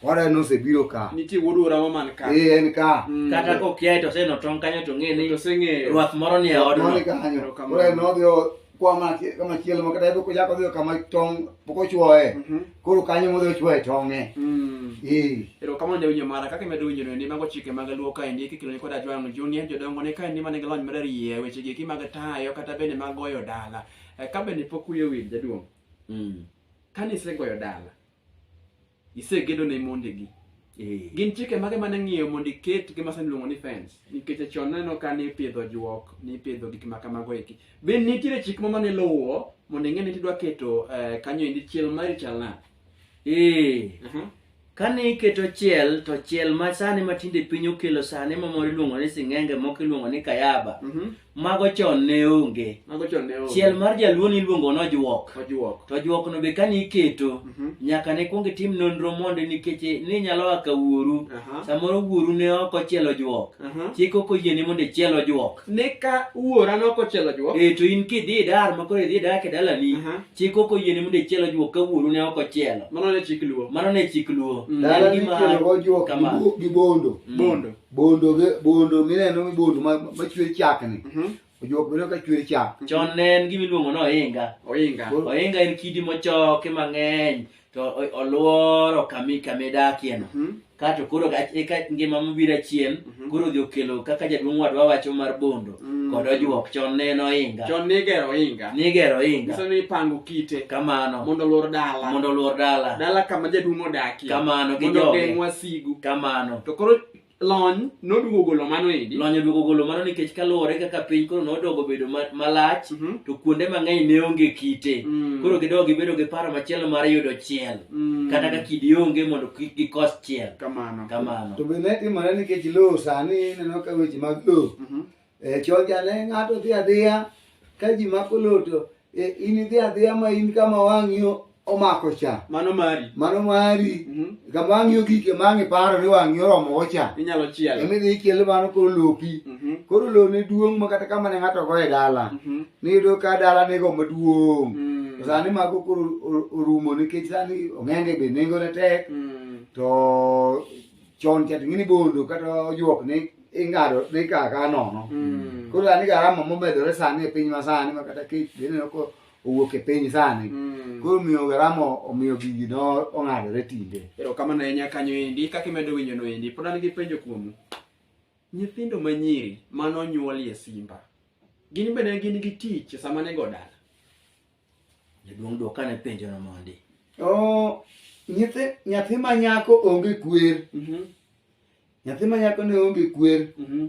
owadwa nosebiro ka nitie wuod orawa man ka. ee en ka Mm. kata kokiaye to oseneno tong' kanyo to ng'e ni Oseng'eyo. ruath moro ni e odno Moni kanyo Erokamano. koro en nodhi o- kwa ma ki- kama chielo ma kata yudo ko jako dhiyo kama tong' pok ochwoye Mhm. koro kanyo modhi ochwoye tong'e Mm. Eh, erokamano jawinjo mara kaka imedo winjono ni mago chike mag luo kaendi kikelo ni kod ajwang' junior jodongo ne kaendi mane gilony mararie weche gieki mag tayo kata bende mag goyo dala Eh, ka bende pok wiye wil jaduong' mm. kane isegoyo dala Isegedo ne mondegi. Eh. Gin chike mage mane ng'iyo mondo iket gima sani iluongo ni fence? Nikech chon neno ka ni ipidho juok, ni ipidho gik ma kamago eki. Be nitiere chik ma mane luwo mondo ing'e ni idwa keto eh, kanyo endi chiel mari chal nade? Eh. Aha. Kane iketo chiel to chiel ma sani matinde piny okelo sani ma moro iluongo ni sing'enge moko iluongo ni kayaba. Mhm. mago chon ne onge mago chon ne onge. chiel mar jaluo niluongo ni ojuok Ojuok. to ojuok no be kane iketo Mhm. nyaka ne kwong itim nonro mondo nikech ninyalo a ka wuoru Aha. samoro wuoru ne ok ochielo juok Aha. chik ok oyieni mondo ichiel ojuok Ne ka wuora nok ochielo ojuok. e to in kidhi idar ma koro idhi idak e dalani Aha. chik ok oyieni mondo ichiel ojuok ka wuoru ne ok ochielo Mano ne chik luo. mano ne chik luo En Dala gima- nikelogo juok kama. gi bo- gi bondo. Mm. Bondo. bondo bondo mineno mi bondo machwer chak ni mhm. ojuok bedo ka chwer chak mhm. chon ne en gima iluongo ni ohinga ohinga ohinga en kidi mochoki mang'eny to olworo kami kami dakieno mhm. kato koro eka ngima mobiro achien koro odhi okelo kaka jaduong' wadwa wacho mar bondo Mm. kod ojuok chon ne en ohinga Chon nigero ohinga. nigero ohinga Nyiso ni ipango kite kamano mondo olwor dala. mondo olwor dala Dala kama jaduong' odakie. kamano gi Mondo ogeng' joge wasigu. kamano To koro lony noduogo golo mano endi. lony oduogo golo mano nikech kaluwore kaka piny koro nodogo bedo ma- malach Mhm. to kuonde mang'eny ne onge kite Mm. koro gidogo gibedo gi paro machielo mar yudo chiel Mm. kata ka kidi onge mondo kik gikos chiel Kamano. kamano To be ne timore nikech lowo sani ineno ka weche mag lowo Mhm. e choja ne ng'ato dhi adhiya ka ji mako loto e, in idhi adhiya ma in kama wang'i o- omako cha Mano mari. mano mari Mhm. kama wang'i ogik ema ang' iparo ni wang'i oromogo cha Inyalo chielo. ema idhi ichielo mano koro lopi Mhm. koro lo ne duong' ma kata kama ne ng'ato go e dala Mhm. niyudo ka dala nigo maduong' Mm. To sani mago koro o- orumo nikech sani ong'enge be nengone tek Mm. to chon cha to ing'e ni bondo kata ojuok ni ing'ado ni kaa kaa nono Mm. koro an garama momedore sani e piny ma sani ma kata kech be ineno ko owuok e piny sani Mm. koro miyo garama omiyo gigi no ong'adore tinde erokamano ahinya kanyo endi kaka imedo winjo no endi pod an gi penjo kuomu nyithindo manyiri mane onyuolie simba gin bende gin gi tich sama nego dala Jaduong' dwokane penjono mondi. Oo, nyithi, nyathi ma nyako onge kwer. Mhm, Nyathi ma nyako ne onge kwer. mhm.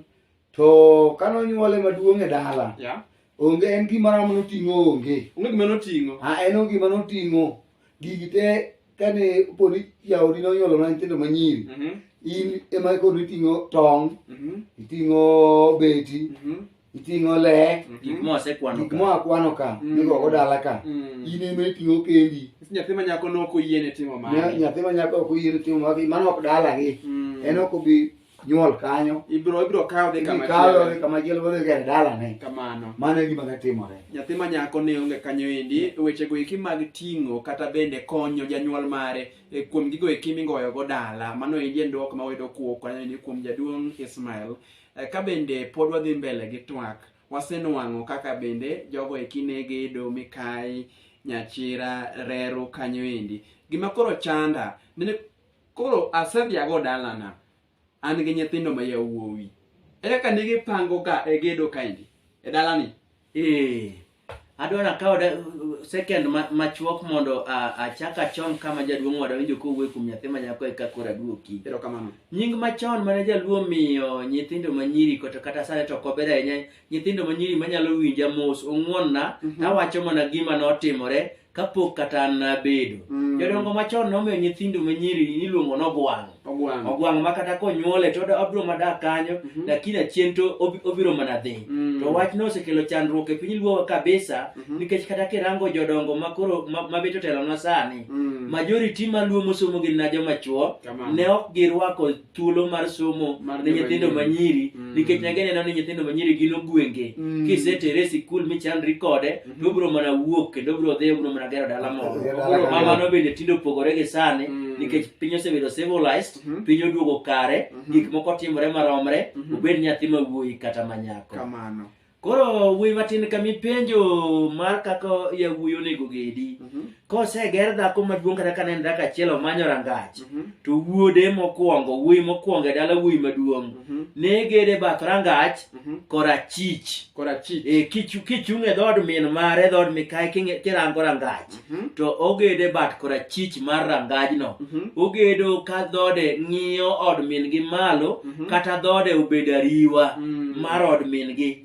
To kane onyuole maduong' e dala, Ya. onge en gima ramo noting'o onge. Onge gima noting'o. A en onge gima noting'o. Gigi te kane poni jaodi nonyuolo na nyithindo manyiri, Mhm, in ema koro iting'o tong', mhm, iting'o beti, mhm, iting'o lek gik ma wasekwano gik ka. moa kwano ka Mm. migogo dala ka Mm. in ema iting'o kendi Nikech nyathi ma nyako ne ok oyiene timo Nya- mano. nyathi ma nyako ok oyiene timo magi mano ok dalagi Mm. en ok obi nyuol kanyo Ibiro ibiro kawo dhi kama ikawe chielo. kama chielo wadhi gere dalane Kamano. mano e gima ne timore Nyathi ma nyako ne onge kanyo endi, wechego eki mag ting'o kata bende konyo janyuol mare e, kuom gigo eki mingoyogo dala. Mano endi en dwoko ma wayudo kuo kanyo endi kuom jaduong' Ismael. Eh, ka bende pod wadhi mbele gi twak wasenwang'o kaka bende jogo eki ne gedo mikayi nyachira reru kanyo endi gima koro chanda nene koro asedhiago dalana an gi nyithindo ma yawuowi e kaka ne gipangoga e gedo kaendi e dalani Eh, adwa nakawo da- second ma- machuok mondo a- achak achon kama jaduong' wada winjo kowuoyo kuom nyathi ma nyako eka koro aduoki erokamano nying machon mane jaluo miyo nyithindo manyiri kata kata sani to ok ober ahinya nyithindo manyiri manyalo winja mos ong'wonna Mhm. tawacho mana gima notimore kapok kata an nabedo Mm. jodongo machon nomiyo nyithindo ma nyiri niluongo nogwang' Ogwang'. ogwang' ma kata konyuole to oda- obiro madak kanyo Mhm. lakini achien to obi- obiro mana dhi Mm. to wachno osekelo chandruok e piny luowa kabisa Mhm. nikech kata kirango jodongo makoro ma- mabet otelona sani Mm. majority maluo mosomo gin na joma chuo Kamano. ne ok girwako thuolo mar somo Mar ne nyithindo joma nyiri. manyiri Mm. nikech ne gineno ni nyithindo manyiri gin ogwenge Mm. kisetere e sikul michandri kode Mhm. to obiro mana wuok kendo obiro dhi obiro mana gero dala moro Gero dala Koro mama kamoro. no bende tinde opogore gi sani Mm. nikech piny osebedo civilized Mhm. piny oduogo kare Mhm. gik moko timore maromre Mhm. obed nyathi ma wuoyi kata manyako kamano Koro wuoyi matin kama ipenjo mar kaka yawuoyi onego gedi. Mhm. Koseger dhako maduong' kata kane en dhako achiel omanyo rangach, Mhm. to wuode mokwongo, wuoyi mokwongo e dala wuoyi maduong' Mhm. ne gede bath rangach Mhm. korachich. Korachich. E, kichu- kichung' e dhood min mare, dhood mikayi king'e- kirango rangach. Hmm? to ogede bat korachich mar rangajno hmm? ogedo ka dhode ng'iyo od min-gi malo hmm? kata dhode obed ariwa mar od min-gi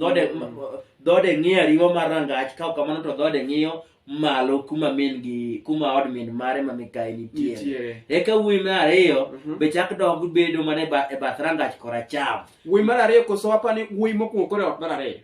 dhode ng'iyo ariwa mar rangach ka kamano to dhode ng'iyo malo kuma min gi kuma od min mare ma mikayi nitiere eka wuoyi mar ariyo be chak dog bedo mana e bath rangach koracham wuoyi mar ariyo koso apani wuoyi mokwongo kore ot mar ariyo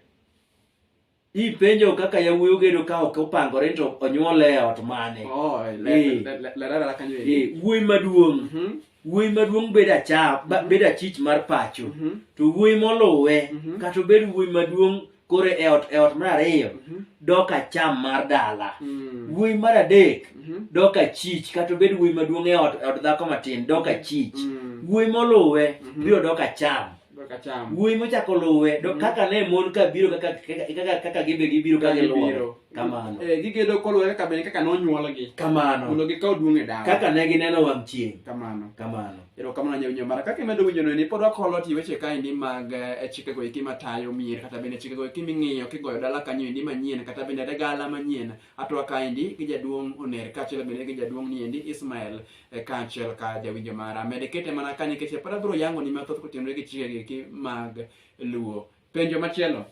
Ipenjo kaka yawuoyi ogedo ka ok opangore to onyuol e ot mane. Oh, Eh. le- le- le- lerara la kanyo Eh, eri. wuoyi maduong'. Mhm, Wuoyi maduong' bedo acha, ba- Mhm. bedo achich mar pacho. mhm, To wuoyi moluwe Mhm. kata obed wuoyi maduong' koro e ot e ot mar ariyo mhm, dok acham mar dala. mm, Wuoyi mar adek mhm, dok achich kata obed wuoyi maduong' e ot e od dhako matin dok achich. mm, Wuoyi moluwe Mhm. biro dok acham. Kaka cham. wuoyi mochako luwe do- Mhm. kaka ne mon ka biro kaka kaka- kaka gibe gibiro ka giluwo Gibiro. kamano Eh, gigedo koluwore kaka bende kaka nonyuolgi kamano mondo gikaw duong' e dawa kaka ne gineno wang' chieng' kamano kamano erokamano nyawinyo mara kaka imedo winjono ni pod wakolo ti weche kaendi mag eh, chikego eki matayo mier kata bende chikego eki ming'iyo kigoyo dala kanyo endi manyien kata bende dagala manyien atwa kaendi gi jaduong' oner kaachiel bende gi jaduong' niendi ismael eh, kaachiel ka jawinjo mara mede kete mana ka nikech pod abiro yango ni mathoth kotenore gi chike giki mag luo penjo machielo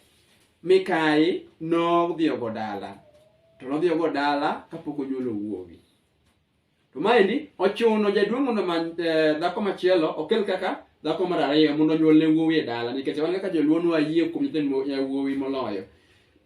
mikayi nodhiyogo dala to nodhiyogo dala kapok onyuolo wuowi to maendi ochuno jaduong' mondo omany eh, dhako machielo okel kaka dhako mar ariyo mondo onyuolne wuowi e dala nikech wan kaka joluo nwa yie kuom nyithind mo- eh, wuowi moloyo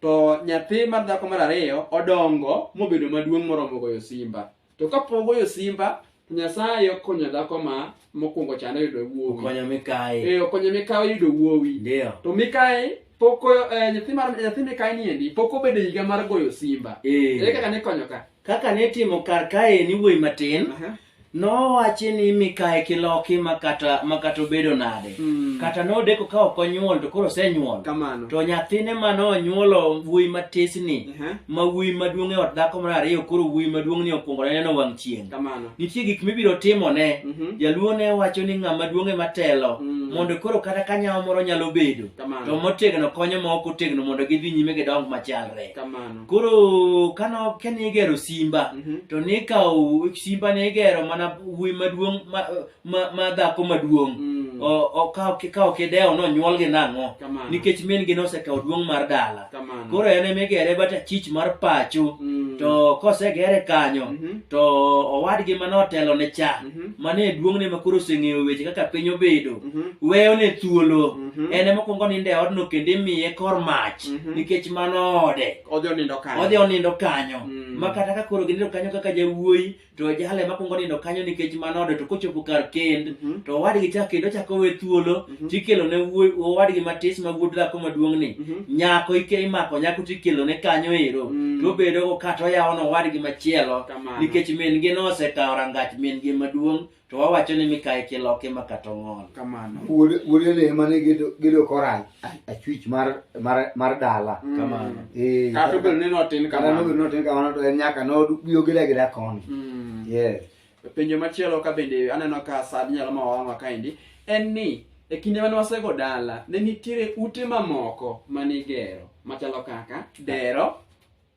to nyathi mar dhako mar ariyo odongo mobedo maduong' moromo goyo simba to kapok ogoyo simba to nyasaye okonyo dhako ma mokwongo chano yudo wuowi Okonyo mikayi. Eh, okonyo mikawe yudo wuowi Ndio. to mikae poko eh, nyathi mar nyathi mikae niendi pok obedo higa mar goyo simba Eh. ere kaka nikonyo ka kaka ne timo kar kae ni wuoyi matin Aha. nowachi ni mikae kiloki makata makata obedo nade Mm. kata nodeko ka ok onyuol to koro osenyuol kamano to nyathine ma nonyuolo wuoyi matisni Aha. ma wuoyi maduong' e ot dhako mar ariyo koro wuoyi maduong' ni okwongo ne neno wang' chieng' kamano nitie gik mibiro timone Mhm. jaluo ne wacho ni ng'ama duong' ema telo Mm. mondo koro kata ka nyawo moro nyalo bedo Kamano. to motegno konyo ma ok otegno mondo gidhi nyime gidong machalre kamano koro kano kane igero simba Mhm. to nikawo simba ne igero mana wuoyi maduong' ma- ma- ma dhako maduong' Mm. O- o- ka ok- ka ok idewo nonyuol gi nang'o Kamano. nikech min gi nosekawo duong' mar dala Kamano. koro en ema igere but achich mar pacho Mm. to kosegere kanyo Mhm. to owadgi mane otelo ne cha Mhm. mane e duong'ne ma koro oseng'eyo weche kaka piny obedo Mhm. weyone thuolo Mhm. en ema okuongo nindo e odno kendo imiye kor mach Mhm. nikech mano ode Odhi onindo kanyo. odhi onindo kanyo Mm. ma kata ka koro ginindo kanyo kaka jawuoyi to jalo ema kuongo nindo kanyo nikech mano ode to kochopo kar kend Mhm. to owadgi cha kendo chako we thuolo Mhm. tikelo ne wuoyi- owadgi matis ma wuod dhako maduong'ni Mhm. nyako ike imako nyako tikelo ne kanyo ero Mm. to obedogo kata oyawo ne owadgi machielo Kamano. nikech min-gi nosekawo rangach min-gi maduong' to wawacho ni mikayi kiloki ma kata ong'ol Kamano. wuod wuod ele ema ne gedo gedo kora a- achwich mar mar mar dala Mm. Kamano. Eh, Kata obedo ni notin kata kamano. nobedo notin kamano to en nyaka nobiro gida gida koni Mm. yes penjo machielo ka bende aneno ka sad nyalo ma wawang'wa kaendi en ni e kinde mane wasego dala ne nitiere ute mamoko manigero machalo kaka dero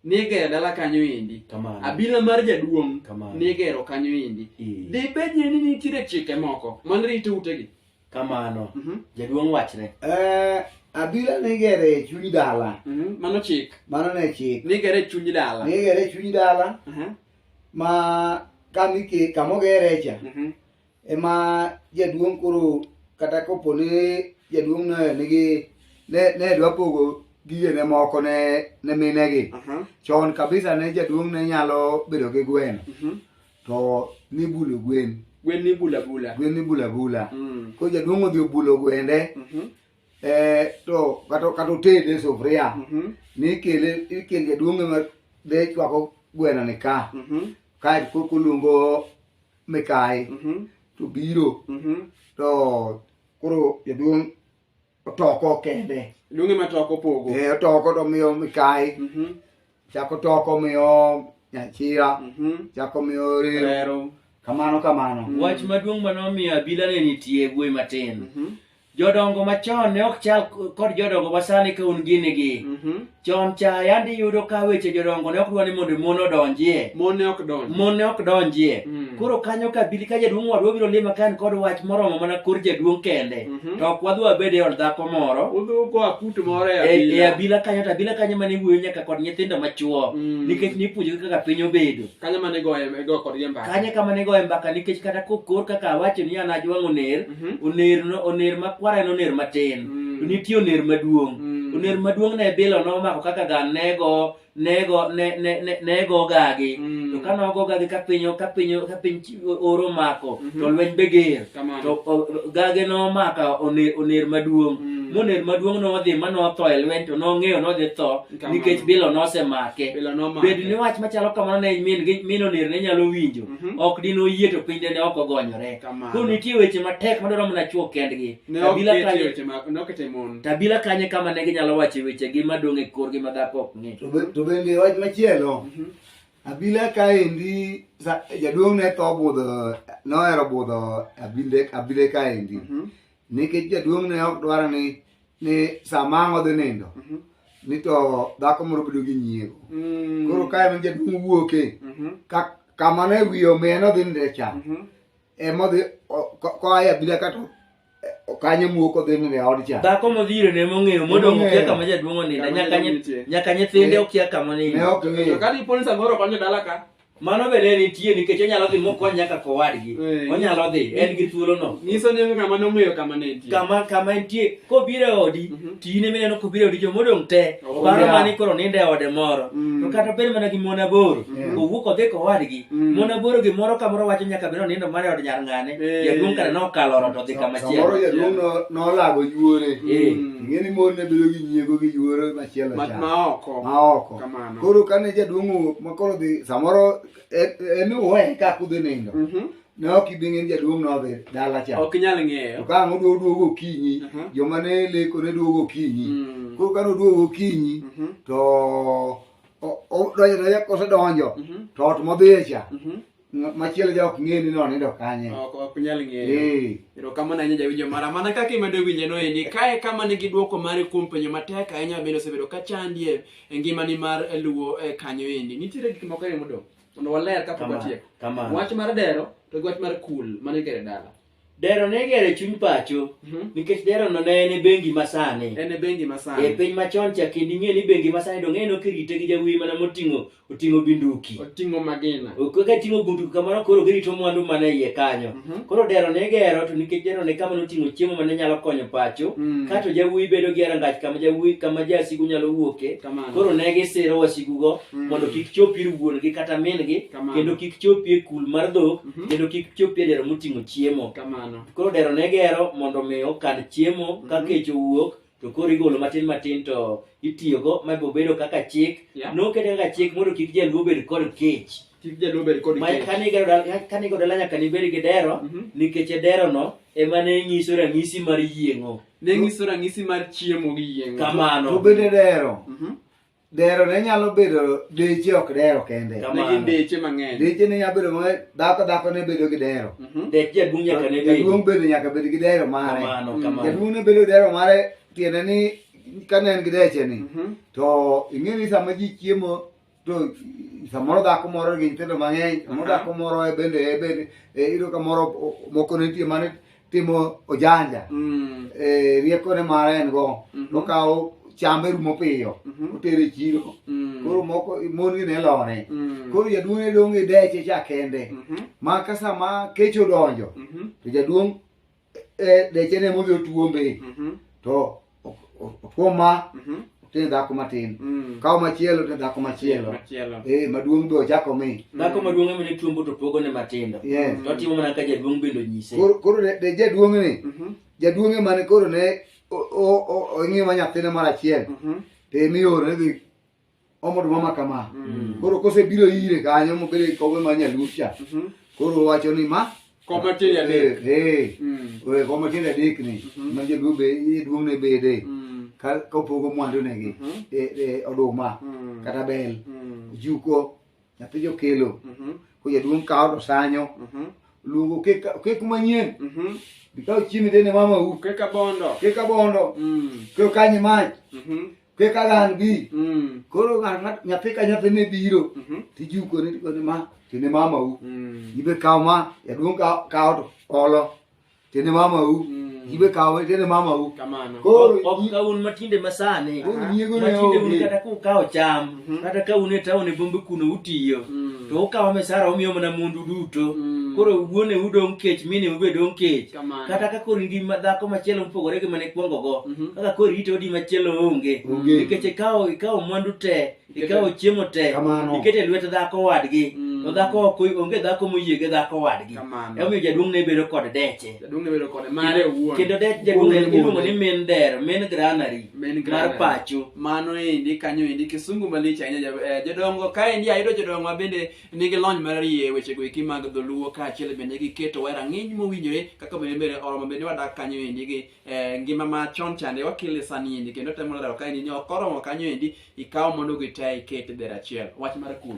nigero dala kanyo endi Kamano. abila mar jaduong' Kamano. nigero kanyo endi Ee. dibed ni ni nitiere chike moko mane rito utegi kamano Mhm, jaduong' wachne Eh, abila nigere e chuny dala mhm, mano chik mano ne chik nigero e chuny dala nigere e chuny dala Aha, ma kamike kamogere cha mhm, ema jaduong' koro kata kopo ni jaduong' ne nigi ne ne dwa pogo gigene moko ne ne minegi Aha. chon kabisa ne jaduong' ne nyalo bedo gi gweno Mhm. to nibulo gwen Gwen ni bula bula. gwen nibula bula Mm. ko jaduong' odhi obulo gwende Mhm. eh, to kata kata otede e sufuria Mhm. nikele ikele jaduong' ema de chwako gweno ni ka Mhm. kae koko luongo mikayi to biro to koro jaduong' otoko kende Luonge ma toko pogo. Eh, otoko to miyo mikayi Mhm. chako toko miyo nyachira Mhm. chako miyo rero Rero. kamano kamano Wach maduong' ma nomiyo abila ne nitie e gweng' matin. Mhm. Jodongo machon ne ok chal kod jodongo masani ka un gini gi. Mhm. Chon cha yandi iyudo ka weche jodongo ne ok dwa ni mondo mon odonjie. Mon ne ok donj. Mon ne ok donjie. Mm. Koro kanyo ka bili ka jaduong' wadwa biro lima ka en kod wach moromo mana kor jaduong' kende. Mhm. To ok wadhi wabed e od dhako moro. Udhu koa kut moro e E e abila. abila kanyo to abila kanyo mane wuoyo nyaka kod nyithindo machuo. Mm. Nikech nipuonjogi kaka piny obedo. Kanyo mane goye go kodgi mbaka. Kanyo kama ne goye mbaka nikech kata kokor kaka awacho ni an ajwang'o ner. Mhm. oner no- oner makwar en oner matin Mm. to nitie oner maduong' Mm. oner maduong' ne bilo nomako kaka ga nego nego ne- ne- ne- nego gagi Mm. to ka nogo gagi ka piny ka piny ka piny chi- oro mako Mhm. to lweny be ger Kamano. to o- o- gage nomaka oner oner maduong' Mm. moner maduong' nodhi ma notho e lweny to nong'eyo nodhi tho Kamano. nikech bilo nosemake Bilo nomake. bed ni wach machalo kamano ne min gi- min oner ne nyalo winjo Mhm. ok dine oyie to piny dine ok ogonyore Kamano. koro nitie weche matek madwaro mana chwo kendgi Ne ok Kabila ketie kanye- weche ma- ne ok ketie mon. tabila kanye kama ne ginyalo wache wechegi madong' e korgi ma dhako ok ng'e To be- to bende wach machielo Mhm. abila kaendi sa- jaduong' ne tho budho nohero budho abile abile kaendi Mhm. nikech jaduong' ne ok dwar ni ni sama ang' odhi nindo mhm. ni to dhako moro bedo gi nyiego mm. koro ka en jaduong' wuoke mhm. kama ne wiye omiye nodhi ninde cha mhm. emodhi koa e abila kato kanyo muok odhi ninde e od cha dhako modhire ne mong'eyo modong' okia kama jaduong' oninda nyaka nyithinde eh. okia kama oninda ne ok ng'eyo kata iponi samoro konyo dala ka Mano be ne nitie nikech onyalo dhi mokony nyaka kowadgi. Eh. Onyalo dhi, en gi thuolono. Nyiso ni ng'ama nong'eyo kama ne nitie. Kama kama entie, kobiro e odi, Mhm. to in ema ineno kobiro e odi joma odong' te. Oh, Paro yeah. mani koro nindo e ode moro. Mm. To kata bed mana gi mon aboro, Mhm. owuok odhi kowadgi. Mm. Mon aboro gimoro kamoro wacho nyaka biro nindo mana e od nyar ng'ane. Eh. Jaduong' kata nokalo ot odhi kama Samoro chielo. jaduong' no- nolago yuore. Eh. Mm. Ing'e ni mon ne bedo gi nyiego gi yuore machielo Ma- cha. ma oko. Ma oko. Kamano. koro kane jaduong' owuok ma koro dhi samoro e- en uwe ka kudhi nindo Mhm. ne ok ibi ng'e ni jaduong' nodhi dala cha Ok inyal to ng'eyo. ka ang' oduogo duogo okinyi Mhm. joma ne leko ne duogo okinyi Mm. koro kane oduogo okinyi Mhm. to o- o- donjo donjo kosedonjo Mhm. to ot modhiye cha Mhm. machielo ja ok ng'e ni nonindo kanye ok ok nyal ng'eyo Eh. erokamano ahinya jawinjo mara mana kaka imedo winje no endi kae kama nigi dwoko mare kuom penjo matek ahinya bende osebedo ka chandie e ngimani mar eh, luwo eh, kanyo endi nitiere gik moko ariyo modong' mondo waler kapok Kama, watieko kama. wach mar dero to gi wach mar kul mane kere dala Dero ne gere chuny pacho mhm. nikech dero no ne en e bengi masani. En e bengi masani. E piny machon cha kendo ing'e ni bengi masani donge no kirite gi jawi mana moting'o oting'o binduki. Oting'o magina. Oko ka ting'o bunduki kamano koro girito mwandu mana iye kanyo. Mhm. Koro dero ne gero to nikech dero ne kama noting'o chiemo mane nyalo konyo pacho. Mm. Kato jawi bedo gi arangach kama jawi kama jasigu nyalo wuoke. Koro ne gisiro wasigu go mm. mondo kik chop ir wuon gi kata min gi kendo kik chop e kul mar dhok. Mhm. kendo kik chopie dero moting'o chiemo Kamano. koro dero ne gero mondo mi okan chiemo ka Mhm. kech owuok to koro igolo matin matin to itiyogo ma bo bedo kaka chik Yeah. nokete kaka chik mondo kik jaluo bed kod kech Kik jaluo bed kod Ma- kech. kane igero dala- kane igero dala nyaka nibed gi dero Mhm. nikech e derono ema ne nyiso ranyisi mar yieng'o Ne nyiso ranyisi mar chiemo gi yieng'o. kamano To bende dero Mhm. dero ne nyalo bedo deche ok dero kende ne gin deche mang'eny deche ne nyalo bedo ma dhako dhako ne bedo gi dero mhm. dek jaduong' nyaka ne jaduong' bedo nyaka bed gi dero mare jaduong' ne bedo dero mare tiende ni ka ne en gi deche ni mhm. to ing'e ni sama ji chiemo to samoro dhako moro gi nyithindo mang'eny samoro dhako moro e bende e bende e, iyudo ka moro moko nitie mane timo ojanja mm. e, rieko ne mara en go mm -hmm. okawo chambe rumo piyo mm -hmm. otere chiro mm. koro moko mon gi ne lore mm. koro jaduong' ne dong' e deche cha kende mm -hmm. ma ka sama kech odonjo mm -hmm. to jaduong' e, deche ne modhi otuombe mm -hmm. to Okuom ma, Mhm. otin dhako matin. Mm. Kaw machielo, otin dhako machielo. Machielo. Eh, maduong' be ochako omi. Dhako maduong' ema ne chombo to pogo ne matindo. Yes. To otimo mana ka jaduong' bende onyise. Koro koro ne ne jaduong' ni, Mhm. jaduong' emane koro ne o- o- o- ong'iyo ma nyathine mar achiel. Mhm. Te mioro ne dhi omodo mama kama mm. koro kosebiro ire kanyo mobedo e kobe ma nyaluo cha mhm. koro wacho ni ma koma tiende adek eh, eh. mm. eh, koma tiende adek ni mhm. ma jaluo be duong' ne bede mm. ka opogo mwandu negi mhm. e, e, oduma kata bel juko nyathi jokelo ko jaduong' kawo to sanyo luongo kek manyien bikawo chiembe dene mama u keka bondo keka bondo keo kanyi mach kaka an gi mm. koro nyathi ka nyathi ne biro mhm. tijuko ni tikoni ma tine mama u mm. ibe kaw ma yaduong' kaw to olo tine mama u mm. ibe kaw tine mama u koro ok ka un matinde masani matinde un kata ku kaw cham mhm. kata ka un e taon e bombe kuno utiyo to ukawo mesara umiyo mana mundu duto koro wuone udong' kech mine ubedong' kech kata ka kori di dhako machielo mopogore gi mane ikwongo go mhm. kaka kori ite odi machielo onge nikech ikawo ikawo mwandu te ikawo chiemo te ikete lwet dhako wadgi mm. to dhako ok onge dhako moyie gi dhako wadgi emomiyo jaduong' ne bedo kod deche kendo dech jaduong' iluongo ni min der min granary mar pacho mano endi kanyo endi kisungu malich ahinya eh, jodongo kaendi ayudo jodongo ma bende nigi lony marariye e wechego eki mag dholuo kaachiel bende giketowa e rang'iny mowinjore kaka bende mbele oromo bende wadak kanyo endi gi eh, ngima ma chon chande wakele sani endi kendo temo lero ka endi ni ok oromo kanyo endi ikaw mondo gitaya iket e dher achiel wach mar kul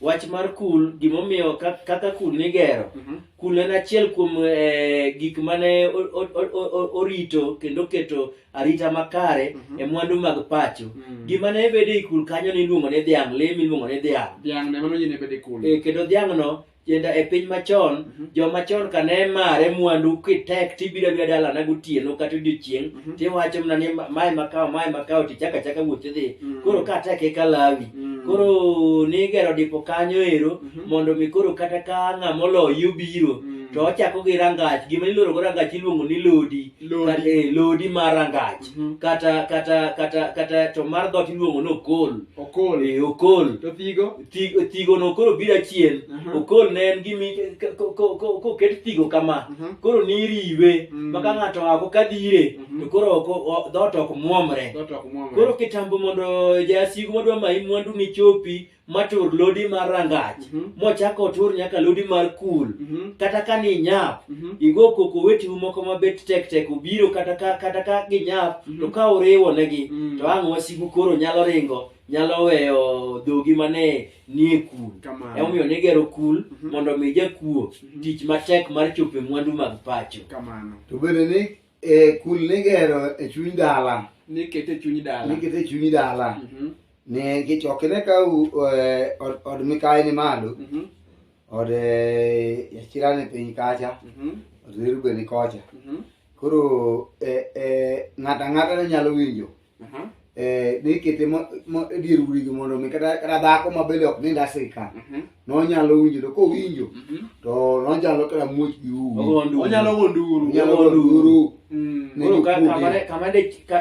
wach mar kul gimomiyo ka- kaka kul nigero Mhm. kul en achiel kuom eh, gik mane o- o- o- o- orito kendo oketo arita makare Mhm. e mwandu mag pacho Mm. gima ne bedo e ikul kanyo ne iluongo ni dhiang' le miluongo ni dhiang' Dhiang' ne mano nyine bede kul. e, kendo dhiang'no tienda e piny machon Mhm. joma chon ka ne mare mwandu kitek tibiro abira dalana gotieno kata odiochieng' Mhm. tiwacho mana ni ma- mae makawo mae makawo tichaka chaka wuoth idhi Mm. koro ka tek e kalawi Mm. koro nigero dipo kanyo ero Mhm. mondo mi koro kata ka ng'ama oloyi obiro Mm. to ochako gi rangach gima ilorogo rangach iluongo ni lodi Lodi. Kata- eh, lodi mar rangach Mhm. kata kata kata kata to mar dhoot iluongo ni okol Okol. Eh, okol To thigo. Thi- thigo no koro biro achien Mhm. okol ne en gimi k- ko- ko- ko- koket thigo kama Mhm. koro niriwe Mm. maka ng'ato ako kadhire Mhm. to koro ok- o- dhoot ok mwomre Dhoot ok mwomre. koro kitambo mondo jasigu madwa mayi mwandu ni chopi matur lodi mar rangach Mhm. mochako otur nyaka lodi mar kul Mhm. kata ka ni nyap Mhm. igo koko wetiu moko mabet tek tek obiro kata ka kata ka ginyap Mhm. to ka uriwo negi Mm. to ang' wasigu koro nyalo ringo nyalo weyo dhogi mane nie kul Kamano. emomiyo nigero kul Mhm. mondo mi jakuo Mhm. tich matek mar chope mwandu mag pacho Kamano. to bende ni e kul nigero e chuny dala nikete chuny dala nikete e chuny dala mhm. ne kichoke ne ka e, od mikayi ni malo mhm. od e, yachira ni piny kacha mhm. od zirube ni kocha koro ng'ata ng'ata ne nyalo winjo Mhm. Eh, ne ikete e dier urigi mondo mi kata dhako ma bende ok nind asika mhm. nonyalo winjo to kowinjo mhm. to nonyalo kata muoch gi uonyalo gonduru mm.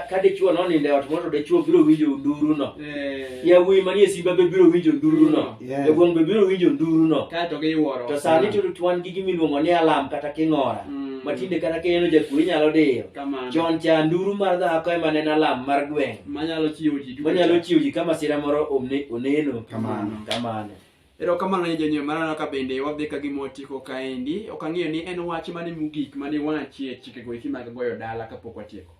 ka dichuo noninde ot mondo dichuo biro winjo nduruno eh. yawuoyi manie simba be biro winjo nduruno Yes. Jokuong' be biro winjo nduruno. Kae to giwuoro. To sani mm. to wan gi gimiluongo ni alam kata king'ora. Mm. Ma tinde kata kineno jakuo inyalo diyo. Kamano. Chon cha nduru mar dhako ema ne en alam mar gweng'. Manyalo chiwo ji duto. Manyalo chiwo ji kama sira moro oneno. Kamano. Kamano. Ero kamano ne jonyuol marana ka bende wadhi ka gima watieko kaendi. Ok ang'eyo ni en wach mane mogik mane wachie chikego eki mag goyo dala kapok watieko.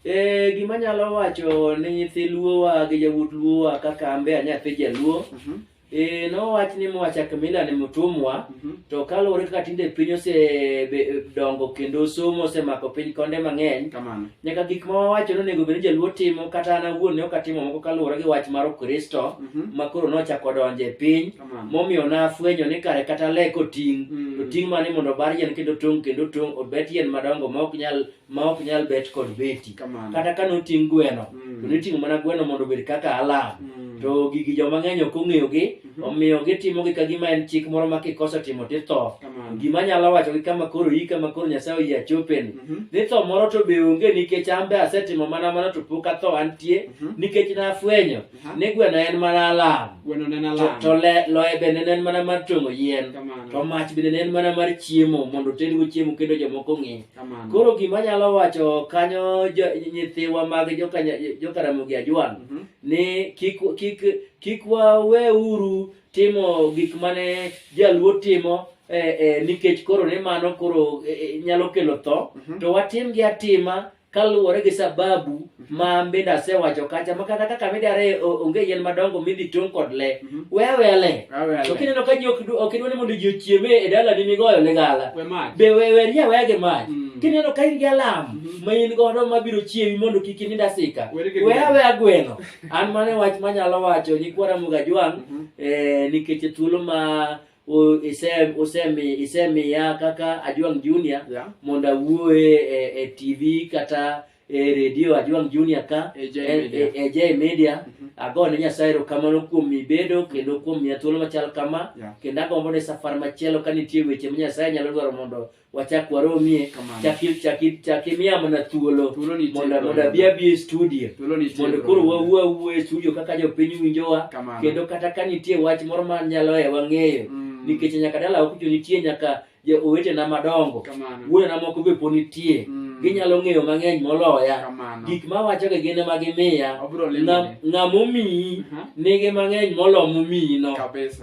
Eh, gima nyalo wacho ne nyithi luowa gi yawuot luowa kaka ambe a nyathi jaluo Mhm, eh, nowach ni mwacha kamila ni mutumwa mhm, to kaluwore kaka tinde piny osedongo kendo somo osemako piny konde mang'eny kamano nyaka gik ma wawacho ni onego bed ni jaluo timo kata an awuon ne ok atimo moko kaluwore gi wach mar ukristo Mhm, ma koro nochako donjo e piny kamano momiyo nafwenyo ni kare kata le koting' Mm. to ting' mane mondo obar yien kendo tong' kendo tong' obet yien madongo ma ok nyal ma ok nyal bet kod beti Kamano. kata ka noting' gweno Mm. to niting'o mana gweno mondo obed kaka alam Mm. to gigi joma ng'eny ok ong'eyogi Mhm. omiyo gitimogi ka gima en chik moro ma kikoso timo titho Kamano. gima nyalo wacho gi kama koro iyi kama koro nyasaye oyie achopeni Mhm. ni tho moro to be onge nikech an be asetimo mana mano to pok atho antie Mhm. nikech nafwenyo Aha. ne gweno en mana alam Gweno ne en to, alam. to le, loye bende ne en mana mar tong'o yien to Kamano. mach bende ne en mana mar chiemo mondo otedgo chiemo kendo jomoko ong'e Kamano. koro gima anyalo wacho kanyo jo- nyithiwa mag jokanya- jokaramogi ajwang' Mhm. ni kik kik kik waweuru timo gik mane jaluo timo eh, eh, nikech koro ni mano koro eh, eh, nyalo kelo tho Mhm. to watimgi atima kaluwore gi sababu ma bende asewacho kacha ma kata kaka midare o- onge yien madongo midhi tong' kod le Mhm. we aweya le Awe ale. to kineno ka ji ok du- ok idwa ni mondo ji ochieme e dalani migoyo ne gala We mach. be we weri aweya gi mach Mm. kineno ka in gi alam Mhm. ma in godo mabiro chiewi mondo kik inind asika Weri gi we gweno. aweya gweno an mane wach manyalo wacho nyikwara mugajwang' Mhm. eh, nikech thuolo ma O- ise- osemi- isemiya kaka ajwang junior Yeah. mondo awuoye e, e tv kata e redio ajwang junior ka E J e- Media. e- e J media ago ne nyasaye erokamano kuom mibedo kendo kuom miya thuolo machal kama Yeah. kendo agombo ni safar machielo ka nitie weche ma nyasaye nyalo dwaro mondo wachak waromie Kamano. chaki- chaki- chak imiya mana thuolo Thuolo nitie mondo koro. mondo abi abi e studio Thuolo nitie mondo koro. koro wawuo awuo e studio kaka jopiny winjowa Kamano. kendo kata ka nitie wach moro ma nyalo e wang'eyo Mm. nikech nyaka dala okucho nitie nyaka jo- owetena madongo Kamano. wuonena moko be po nitie Mm. ginyalo ng'eyo mang'eny moloya Kamano. gik mawachoga gin ema gimiya Obiro limo Ng'a- ni. ng'ama omiyi Aha. nigi mang'eny molo momiyino Kabisa.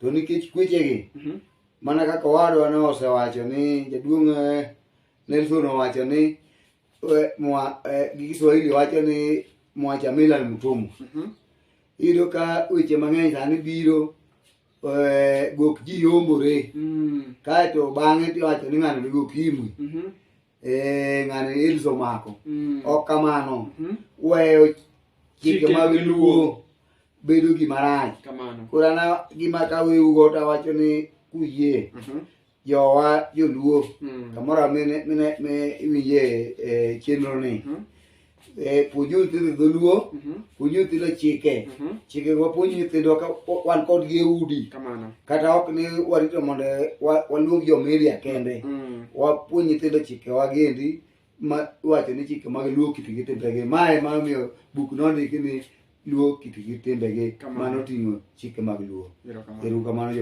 to nikech kwechegi mhm. mana kaka owadwa ne osewacho ni jaduong' eh, Nelson owacho ni eh, eh, gi Kiswahili wacho ni mwacha Milan Mutumu mhm. iyudo ka weche mang'eny sani biro gok ji yombore mm. kaeto bang'e tiwacho ni ng'ano ni gok imwi mhm. Eh, ng'ani ills omako Mm. ok kamano Mhm. weyo chike Chike mag mag luo bedo gima rach Kamano. koro ana gima kaweugo tawacho ni kuyie Mhm. jowa joluo Mm. kamoro amene mine me iwinje e chenro ni Mhm. Eh, puonj nyithindo dholuo mhm. puonj nyithindo chike mhm. chike wapuonj nyithindwa ka wan kodgi e udi kata ok ni warito mondo waluong jomedia kende mm. wapuonj nyithindo chikewa giendi ma wacho ni chike mag luo kitgi timbegi mae mamiyo buk nondiki ni luo kit gi timbegi mano oting'o chike mag luo eru kamano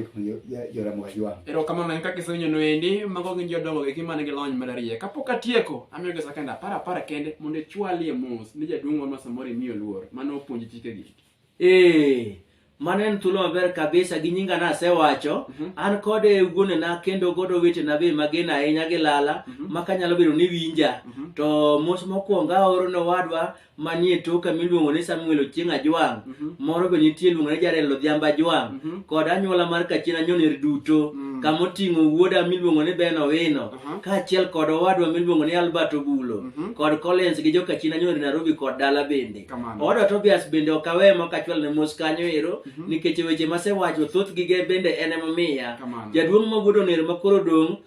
joramoga jwang ero kamano en kaka isenyo noendi mago gin jodongo gi mane gi lony malarie kapok atieko amiyo gi sakenda apar apar kende mondo ichwalie mos ni jaduong' wa masamoro imiyo luor mane opuonji chikegi ee mano en thuolo maber kabisa gi nyinga nasewacho Mhm. an kod e wuonena kendo kod owetena be magen ahinya gi lala Mhm. ma kanyalo bedo ni winja Mhm. to mos mokwongo aoro ne owadwa manie toka miluongo ni Samuel Ochieng Ajwang, mm -hmm. moro be nitie luongo ni Jarel Odhiambo Ajwang, mm -hmm. kod anyuola mar Kachien Anyoner duto, mm -hmm. kama oting'o wuoda miluongo ni Ben Owino, uh -huh. kaachiel kod owadwa miluongo ni Albert Obulo, mm -hmm. kod Collins gi Jokachien Anyoner Nairobi kod dala bende. Owadwa Tobias bende ok awe ma kachwal ne mos kanyo ero, mm -hmm. nikech weche masewacho thoth gige bende en emomiya. Jaduong' Magudo Oner makoro dong'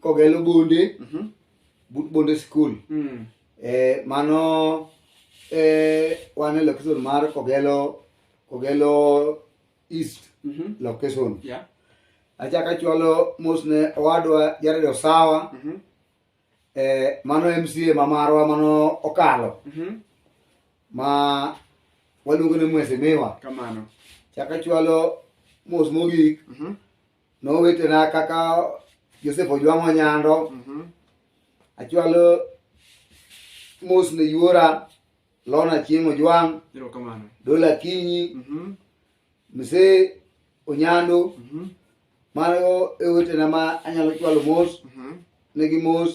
kogelo bonde Mhm. but bonde skul Mm. eh, mano eh, wan e location mar kogelo kogelo east Mhm. location Yeah. achaka chwalo mos ne owadwa jared osawa Mhm. eh, mano mca ma marwa mano okalo Mhm. ma waluongo ni mwesimiwa Kamano. chaka chwalo mos mogik Mhm. nowetena kaka josef ojwang' onyando Mhm. achwalo mos ne yuora lona chieng' ojwang' Erokamano. dola kinyi Mhm. mse onyando Mhm. mago e wetena ma anyalo chwalo mos Mhm. negi mos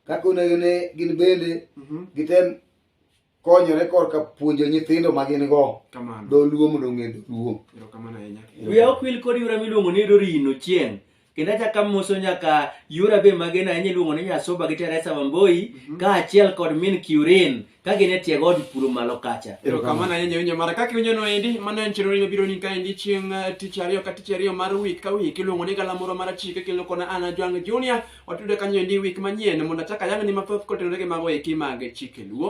kaka onego ne gin bende Mhm. gitem konyore korka puonjo nyithindo ma gin go Kamano. dholuo mondo ong'e dholuo Erokamano ahinya. wiya ok wil kod yura miluongo ni Doreen Ochieng kendo achako amoso nyaka yura be magen ahinya iluongo ni Nyasoba gi Teresa Wamboi kaachiel kod min Kiurin ka gin e tie god puro malo kacha Erokamano ahinya winjo mara kaka iwinjo no endi mano en chenro mabiro ni kaendi chieng' eh, tich ariyo ka tich ariyo mar wik ka wik iluongo ni galamoro mar chike kendo kona ana Jwang Junior Watudre kanyo endi wik manyien mondo achak ayangni mathoth kotenore gi mago eki mag chike luo.